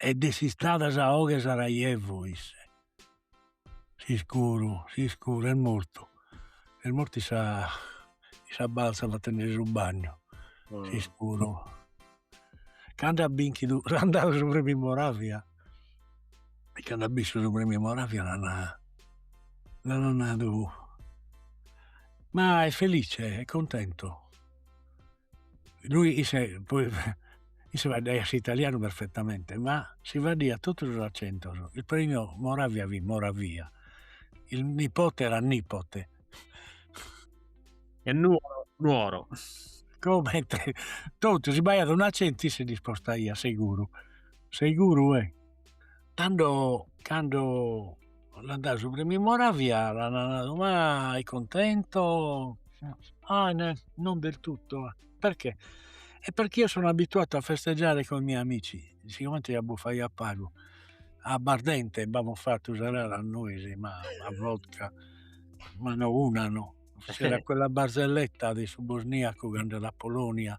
ed est istada sa 'oghe 'e Sarajevo isse s'iscuru s'iscuru est mortu est mortu in sa in sa balza fattendesi su bagnu s'iscuru cando at binchidu an dadu su premiu Moravia e cando at binsu su premiu Moravia l'ana nadu ma est felice est contentu isse faeddaiat s'italianu perfetamente ma si faddiat totu sos accentos il premio Moravia fit Moravia il nipote era Nipote e Nuoro Nuoro comente totu si b'aiat un'accento isse l'ispostaiat seguru seguru 'e Tando cando l'an dadu su premiu Moravia l'ana nadu ma è contento ah nè non del tutto perchè e perchè io sono abituato a festeggiare coi miei amici sigomente buffaiat pagu abbardente b'amus fattu sa gara nois ma a vodka ma no una no, c'era quella barzelletta de su bosniaco ch'andat a Polonia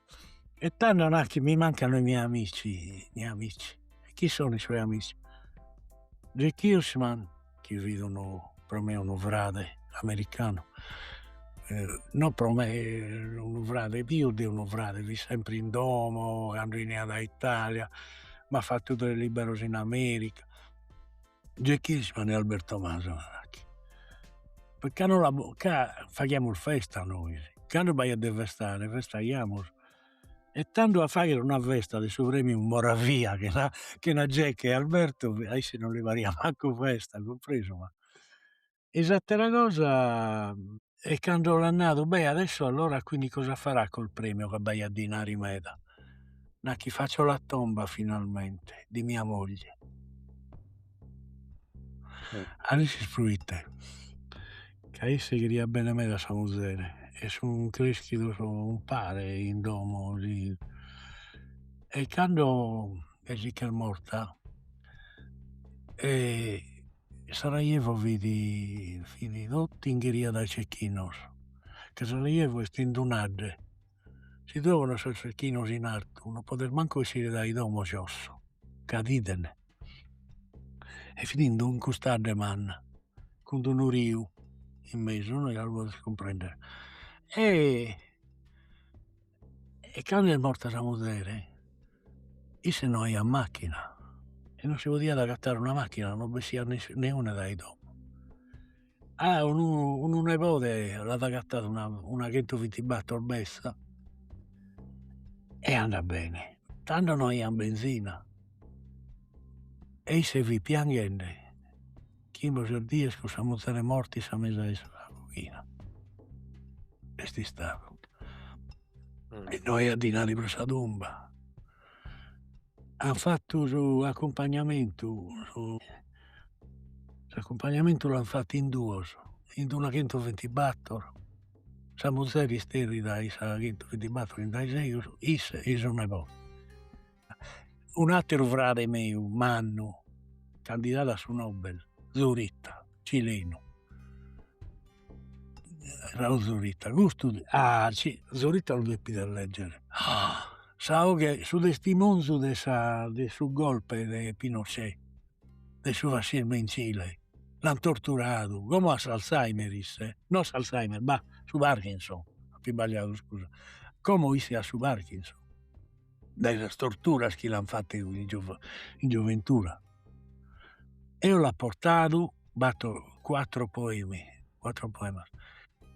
E tando nachi mi mancano i miei amici, miei amici, e chi sono i suoi amici? Jack Hirschman chi fit unu pro me unu frade americanu non pro me unu frade pius de unu frade fit sempre in domo cando 'eniat a Italia m'at fattu de liberos in America Jack Hirschman e Alberto Masala nachi. Proite ca no l'apo, ca faghiamus festa nois, cando b'aiat de festare festaiamus e tando a fagher una festa de su premiu Moravia chena chena Jack e Alberto a isse non li pariat mancu festa, cumpresu ma e s'atera cosa e cando l'at nadu beh adesso allora quindi cosa farà col premio ca b'aiat dinari meda nachi faccio la tomba finalmente di mia moglie e ischis proite ca isse cheriat bene meda a sa muzere e sun creschidos umpare in domo e cando e si ch'est morta, e Sarajevo fit fit totu inghiriada dae cecchinos ca Sarajevo est in d'un'adde si tue pones sos cecchinos in artu non podes mancu essire dae domo cioè ca t'idene e fit ind ind cust'adde manna cun d'unu riu in mesu no gasi lu podes cumprender e e candu est morta sa muzere isse no aiat macchina e non si podiat agatare una macchina non bessiat neuna dae domo ah unu nebode l'at agatadu una chentuvintibattor betza e andat bene tando no aian benzina e isse fit pianghende Chimbe o ses dies cun sa muzere morta in sa mesa 'e sa coghina est istadu e no aiat dinari pro sa tumba, an fattu su accumpagnamentu s'accumpagnamentu l'an fattu in duos, in una chentuvintibattor, sa muzere isterrida in sa chentuvintibattor in dae segus, isse e su nebode un'ateru frade meu mannu candidadu a su Nobel Zurita, cilenu Raúl Zurita, custu ah si Zurita lu deves leggere sa 'oghe, su testimonzu de sa de su golpe de Pinochet de su fascismu in Cile, l'an torturadu como at s'Alzheimer isse, no s'Alzheimer bah su Parkinson, apo isbagliadu scusa, como isse at su Parkinson dae sas torturas chi l'an fattu in in gioventura, eo l'apo bortadu battor quattro poemi quattro poemas.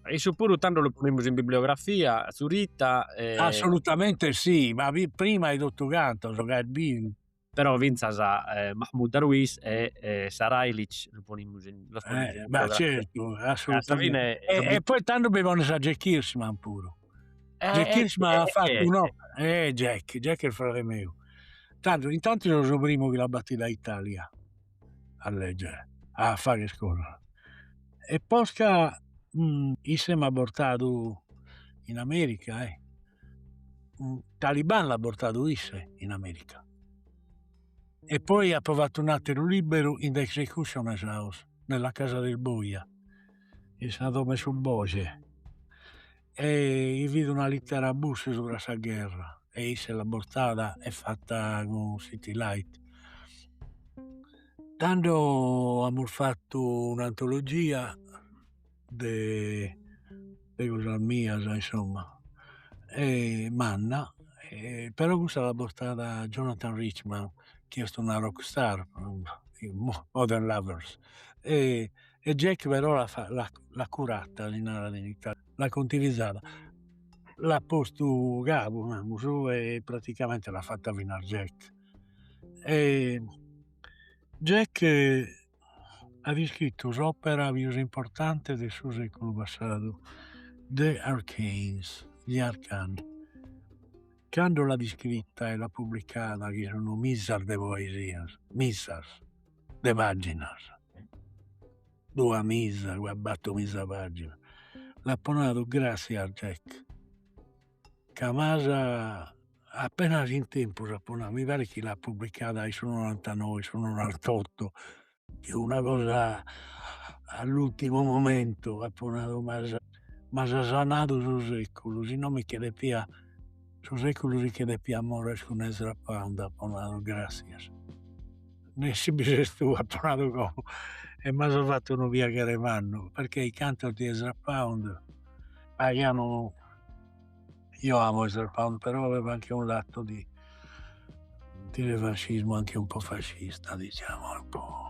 E issu puru tando lu ponemus in bibliografia Zurita e. Assolutamente si, ma prima 'e totu Gatsos ca est biu però fintzas Mahmoud Darwish e e Sarailic lu ponimus in los ponimus in ma certu assolutamente e poi tando bi pones a Jack Hirschman puru Jack Hirschman at fatu un'opera eh Jack Jack est frade meu tando intantu so su primu chi l'at batidu a Italia a leggere a fagher cosas e posca isse m'at bortadu in America e Taliban l'at bortadu isse in America e poi apo fatu un'ateru libberu in The Executioner's House nella casa del boja in sa domo 'e su boja e chi fit una littera a Bush subra sa gherra e isse l'at bortada e fatta cun City Light tando amus fattu un'antologia de de cosas mias insomma e manna e però cussa l'at bortada Jonathan Richman chi est una rock star Modern Lovers e E Jack però l'at curata, si narat in italianu, l'at contivizada, l'at postu cabu, namus, e praticamente l'at fata finas Jack. E Jack at iscritu s'opera pius importante de su seculu passadu The Arcanes, Gli Arcani, cando l'at iscrita e l'at publicada, chi sun mizas de poesias, mizas de paginas duamiza una battor miza paginas l'apo nadu grassias Jack ca m'as apenas in tempus apo nadu mi parit chi l'at publicada in su nonantanoe in su nonantotto chi una cosa all'ultimo momento apo nadu m'as m'as sanadu su seculu si no mi che deppia su seculu si che deppia morrer cun Ezra Pound apo nadu grassias Nessi bi ses tu apo nadu como e m'as fatu unu piaghere mannu perchè i cantos di Ezra Pound paghianu io amo Ezra Pound però aveva anche un lato di di revanscismo anche un po' fascista diciamo un po'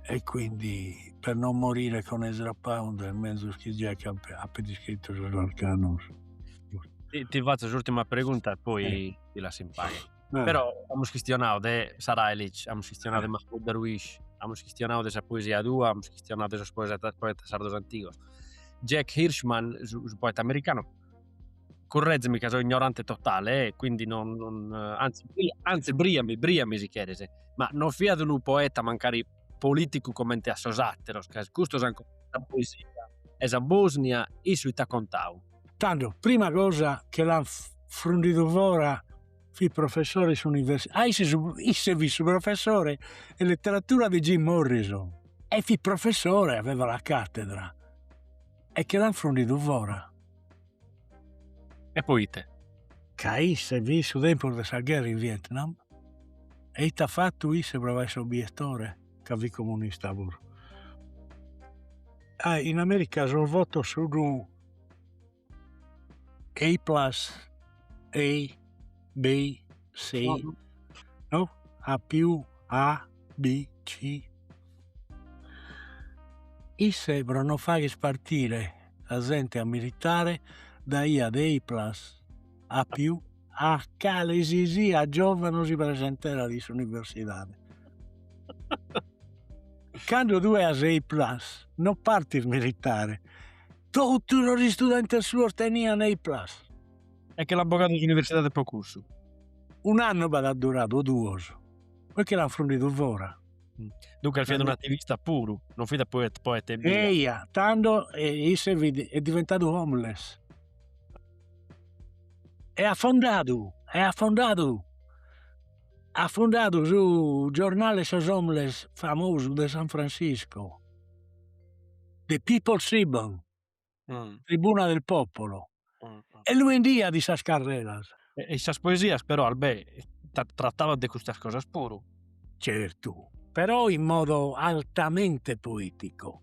e quindi per non morire con Ezra Pound est menzus chi Jack apat iscrittu sos Arcanos. Ti fatzo s'urtima pregunta e poi ti lasso in pache. Eh. Però amus chistionadu de Sarajlić, amus chistionadu eh. de Mahmoud Darwish, amus chistionadu de sa poesia tua, amus chistionadu de sos poetas, poetas sardos antigos. Jack Hirschman, su, su poeta americano, currezimi ca so ignorante totale, eh, quindi non, non eh, anzi, anzi briami, briami si cheres, ma non fiat unu poeta mancari politicu comente a sos ateros, ca custos ancora sa poesia e sa Bosnia, issu ita contau? Tando prima cosa che l'an frundidu fora fit professore in s'università isse su isse fit su professore 'e letteratura de Jim Morrison e fit professore aveva la cattedra e che l'an frundidu fora. E poite? Ca isse fit su tempus de sa gherra in Vietnam e ite at fattu isse pro fagher s'obiettore ca fit comunista puru. Ah in America sos votos sun Ei plus ei bi si no a più a b c isse pro no fagher partire sa zente a militare daiat ei plus a più a cale si siat giovanu si presenterat in s'universidade cando tue as ei plus no partis militare totu sos istudentes suos tenian ei plus e che l'an bogadu s'universidade pro cussu un'annu b'at duradu o duos poi che l'an frundidu fora duncas fiat un'ativista puru non fit poeta ebbia eia tando isse fit diventadu homeless E at fondadu, e at fondadu, at fondadu su giornale 'e sos homeless famosu de San Francisco, The People's Tribune, Tribuna del Popolo, e lu 'endiat in sas carreras. E in sas poesias però Albè tratabat de custas cosas puru. Certu, però in modo altamente poetico.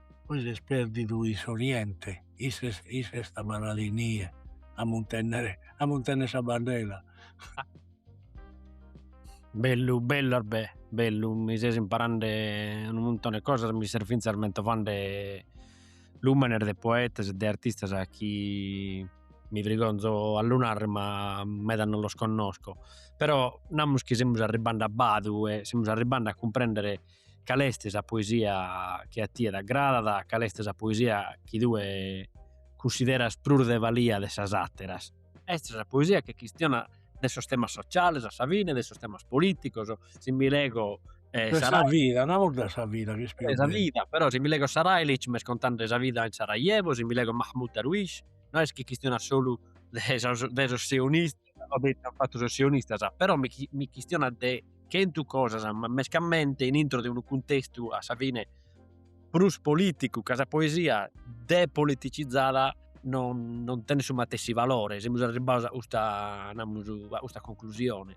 Poi s'est perdidu in s'oriente, isse est abarradu inie a muntennere a muntennere sa bandera. Bellu bellu Albè bellu mi ses imparande unu muntone 'e cosas mi ses finzas mentovande lumenes de poetas e de artistas chi mi frigonzo a lu narrer ma meda non los connosco però namus chi semus arribbande a badu e semus arribbande a cumprendere cale est sa poesia chi a tie t'agradat, cale est sa poesia chi tue cunsideras prus de balia de sas àteras. Est sa poesia chi chistionat de sos temas sociales a sa fine, de sos temas polìticos, si mi lego e sa sa vida, namus de sa vida chi est pius sa vida, però si mi lego Sarajlić m'est contande sa vida in Sarajevo, si mi lego Mahmud Darwish no est chi chistionat solu de sos de sos sionistas o de ite an fatu sos sionistas, però mi, mi chistionat de chentu cosas, ma mescamente in intro de unu cuntestu a sa fine prus politicu, ca sa poesia depoliticizada non, non tenet su matessi valore, semus arribbados a custa, namus, a custa conclusione.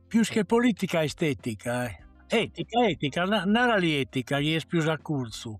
Pius che politica est etica, eh? Etica, etica, narali etica chi est pius a curtzu.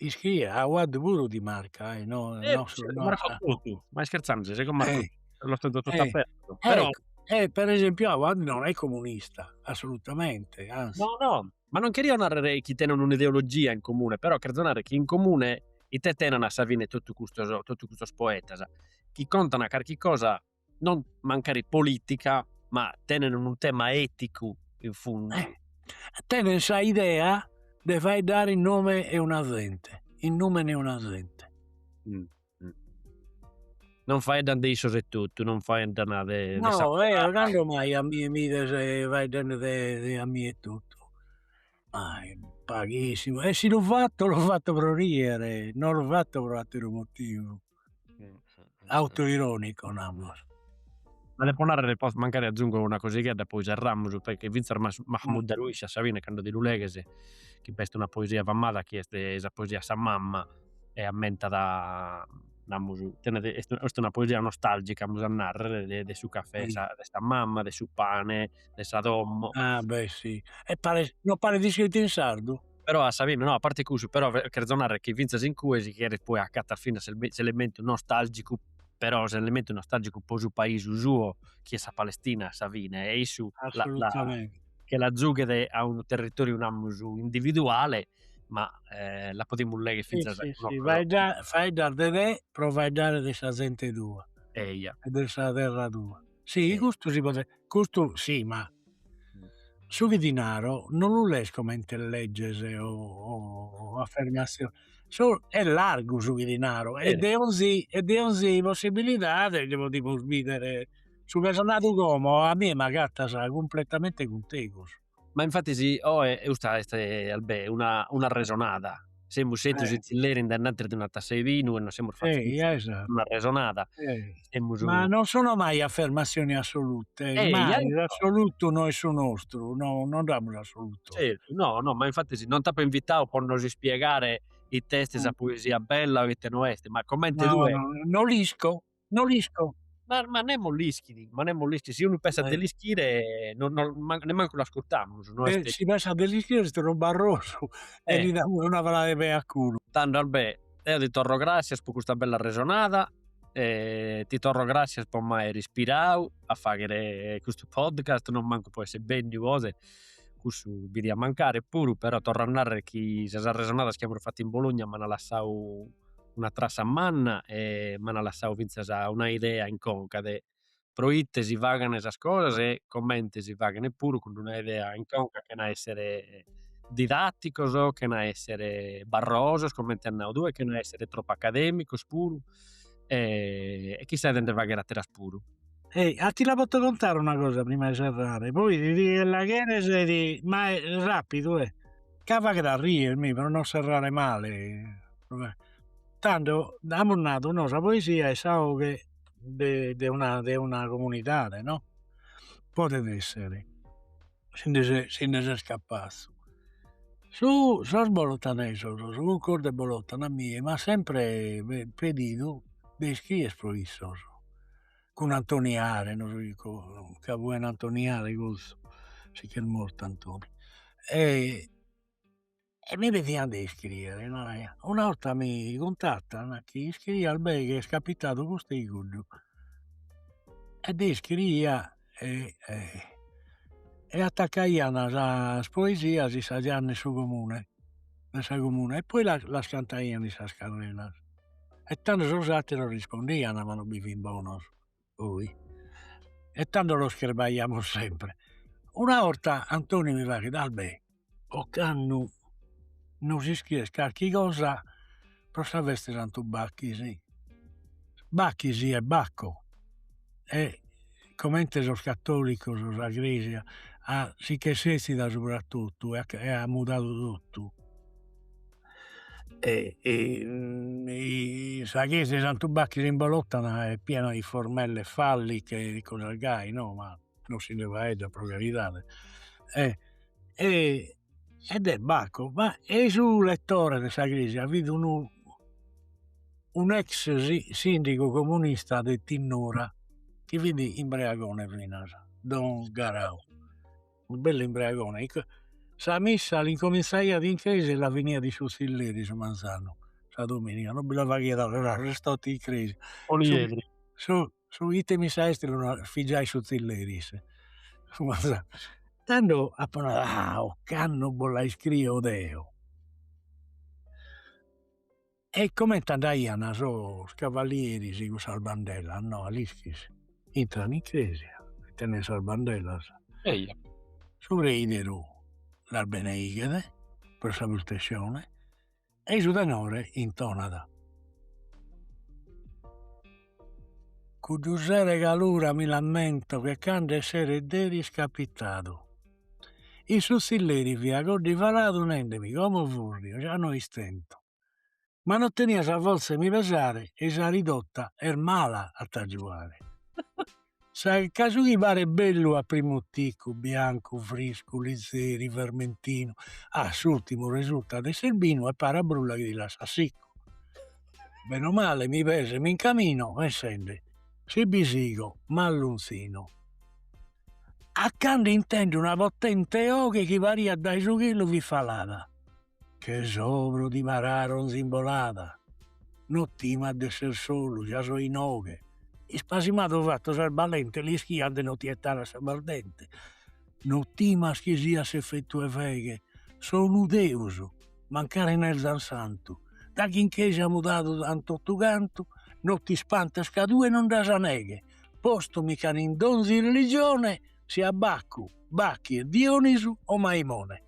Iscrie Awad puru ti marca, ahi, no, eh, no, no, marco totu, ma ischerzande ses, comente eh. los tenzo totu eh. apertu, eh. però... Eh, per esempiu, Awad no est comunista, assolutamente, anzi. No, no, ma non cheria narrere chi tenent un'ideologia in comune, però cherzo narrere chi in comune ite tenent a sa fine totu custos, totu custos poetas, chi contant carchi cosa non mancari politica ma tenent unu tema eticu in fundu. Eh tenent sa idea de faeddare in nome 'e una zente, in numen 'e una zente. Non faeddan de issos etotu, non faeddan de sa. No eo cando mai a mie mi bides faeddende de de a mie etotu, mai, paghissimu, e si lu fatto lu fatto pro riere, non lu fatto pro atteru motivu autoironico namus. Ma depo narrer mancari agiungo una cosighedda e poi serramus proite finzas Mahmud Darwish a sa fine cando ti lu leghes chi b'est una poesia famada chi est sa poesia a sa mamma e ammentat namus custa est una poesia nostalgica amus a narrer de de su cafè de sa de sa mamma de su pane de sa domo. Ah beh si e paret no paret iscrita in sardu Però a sa fine, no, a parti 'e cussu, però cherzo narrer chi finzas in cue si cheret poi acatas finas s'elementu nostalgicu, però s'elementu nostalgicu po su paisu suo chi est sa Palestina a sa fine e issu che la zughet a unu territoriu namus individuale ma la podimus legher finzas faeddas de te pro faeddare de sa zente tua e de sa terra tua. Si custu si podet, custu si ma su chi ti naro non lu lees comente legge o affermascione, est largu su chi ti naro e de 'onzi e de 'onzi possibilidade nde podimus bidere su chi as nadu como a mie m'agatas cumpletamente cuntegus Ma infatis sì custa est Albè un'arresonada, semus settidos in tzilleri in denantis de una tassa 'e binu e nos semus fattos un'arresonada, semus. Ma non sono mai affermassioni assolute, mai, s'assolutu no est su nostru, no non dd'amus s'assolutu. Zertu, no no, ma infatis non t'apo invitadu po nos ispiegare ite est sa poesia bella o ite no est, ma comente tue. No l'isco No l'isco. Ma, ma nemos l'ischit, ma nemos l'ischit, si unu pensat de eh. l'ischire, no, no, man, nemmancu l'ascurtamus. No eh, si pensat de l'ischire est unu barrosu eh. e li damus una calada 'e pei a culu. Tando Albè, deo ti torro gràssias po custa bella arresonada, e ti torro gràssias po m'aer ispirau a fàghere custu podcast, non mancu po esser benniu oe, cussu bi diat mancare puru, però torro a nàrrere chi sas arresonadas chi amus fatu in Bologna m'ant lassau una trassa manna e m'ant lassau fintzas una idea in conca de proite si faghent sas cosas e comente si faghent puru cun d'una idea in conca chena essere didatticos, chena essere barrosos comente as nau tue, chena essere tropu academicos puru e chissà de nde fagher atteras puru. E a ti la poto contare una cosa prima 'e serrare, poi ti la cheres ma rapidu eh. Ca faghet a rier mi pro non serrare male tando amus nadu no sa poesia est sa 'oghe de de una de una comunidade no podet essere si nde ses si nde ses capazu su sos bolotanesos su concordu 'e bolotana a mie m'at sempre pedidu de iscriere pro issos cun Antoni Are no so chi cosa ca fuen Antoni Are cussu si ch'est mortu Antoni e mi pedian de iscriere e naraiat una 'orta mi cuntattan chi iscrie Albè chi est capitadu custu e cuddu e deo iscriia e e attacaian sas poesias in sa gianna 'e su comune 'e sa comune e poi las cantaian in sas carreras E tando sos atteros rispondian, ma non bi fin bonos poi. E tando los cherbaiamus sempre. Una 'orta Antoni mi faghet, Albè, ocannu nos iscries carchi cosa pro sa festa 'e Santu Bacchis, Bacchis est Bacco e comente sos catolicos sa Creja si ch'est setzida subra totu e at mudadu totu e e sa chesja 'e Santu Bacchis in Bolotana est piena de formelle falliche e cosas gai no, ma no si nde faeddat pro caridade e e de Bacco, ma e su rettore de sa chesja fit unu un' ex sindigu comunista de Tinnura chi fit imbreagone finas, don Garau unu bellu imbreagone, sa missa l'incominzaiat in crèsia e la finiat in su tzilleri su manzanu, sa dominiga, non bi la faghiat a restare totu in crèsia, su ite missa est fit giai in su tzilleri isse su manzanu, tando apo nadu, ah ocannu bos la iscrio deo E comente andaian sos cavalieris cun sas bandellas no a l'ischis, intran in cresia e tenen sas bandellas, su preideru las beneighet pro sa protessione e su tenore intonat. Cuddu sero 'e calura mi l'ammento che cando esseret deris capitadu in su zilleri fia coddivaladu nendemi como furrio già no istento ma no tenia sa forza 'e mi pesare e sa ridota est mala a t'agiuare. Ca su chi paret bellu a primu ticu, biancu, friscu, lizeri, vermentinu, a s'urtimu resultat esser binu e paret a brulla chi ti lassat sicu. Bene o male mi peso e mi incamino pensende, si bi sigo m'allunzino. A cando intendo una potente 'oghe chi pariat dae su chelu fit falada, Che s'obru di Mararo nz'imbolada. No timas de esser solu, ja so inoghe. Ispasimadu fattu ses balente, l'ischias de no ti 'ettare a sa bardente. No timas chi siat s'effettu 'e feghe, so unu deus, mancari no 'enza santu. Daghi in chesia mudadu an tottu cantu, no t'ispantes ca tue non nd'as neghe. Postu mi ch'an in donzi religione. siat Baccu, Bacchie, Dionisu o Maimone.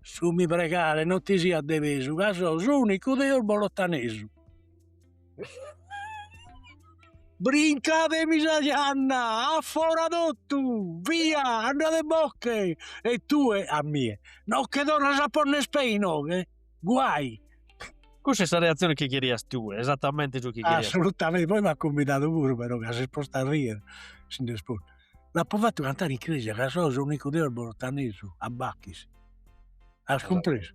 Su mi pregare non ti siat de pesu ca so s'unicu deus bolottanesu. Brincatemi sa janna, a fora totu, via, andadebocche e tue a mie no che torras a ponner pe inoghe, guai. Cussa est sa reatzione chi cherias tue, esatamenti su chi cherias tue. Assolutamente, poi m'at cumbidadu puru, però ca s'est postu a riere si nd'est postu. L'apo fatu cantare in cresia ca so s'unicu deus bolottanesu a Bachis. As cumpresu?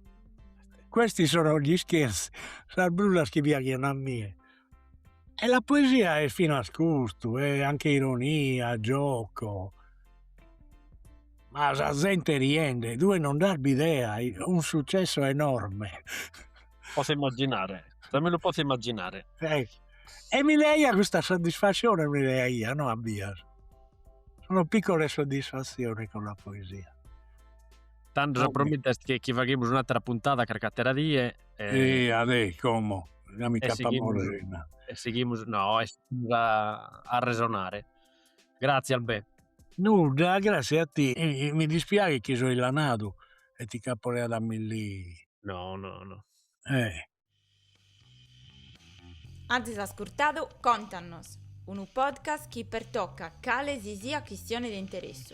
Questi sono gli scherzi, sas brullas chi piaghian a mie. E la poesia est finas custu, è anche ironia, gioco, ma sa zente riende, tue non nd'as bidea, un successo enorme. Posso immaginare, già me lu posso immaginare. e mi leaia custa soddisfassione mi leaia no a bias una piccola soddisfassione cun la poesia. Tando sa promita est chi faghimus un'atera puntada carchi atera die e eh adè como già mi nc'apo a morrere innanti e sighimus no e sighimus a arresonare gratzias Albè. Nudda gratzias a tie e mi dispiaghet chi so illanadu e ti ch'apo leadu a millì no no no eh Azis ascurtadu Contannos, unu podcast chi pertocat cale si siat chistione de interessu.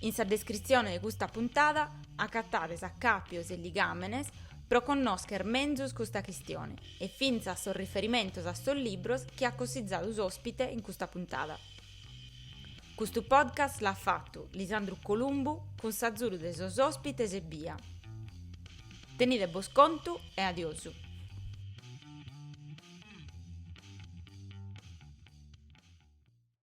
In sa descritzione de custa puntada acatades acàpios e ligàmenes pro connòscher menzus custa chistione e fintzas sos riferimentos a sos libros chi at cossizadu s'òspite in custa puntada. Custu podcast l'at fatu Lisandru Columbu cun s'azudu de sos òspites ebbia. Tenide bos contu e adiosu.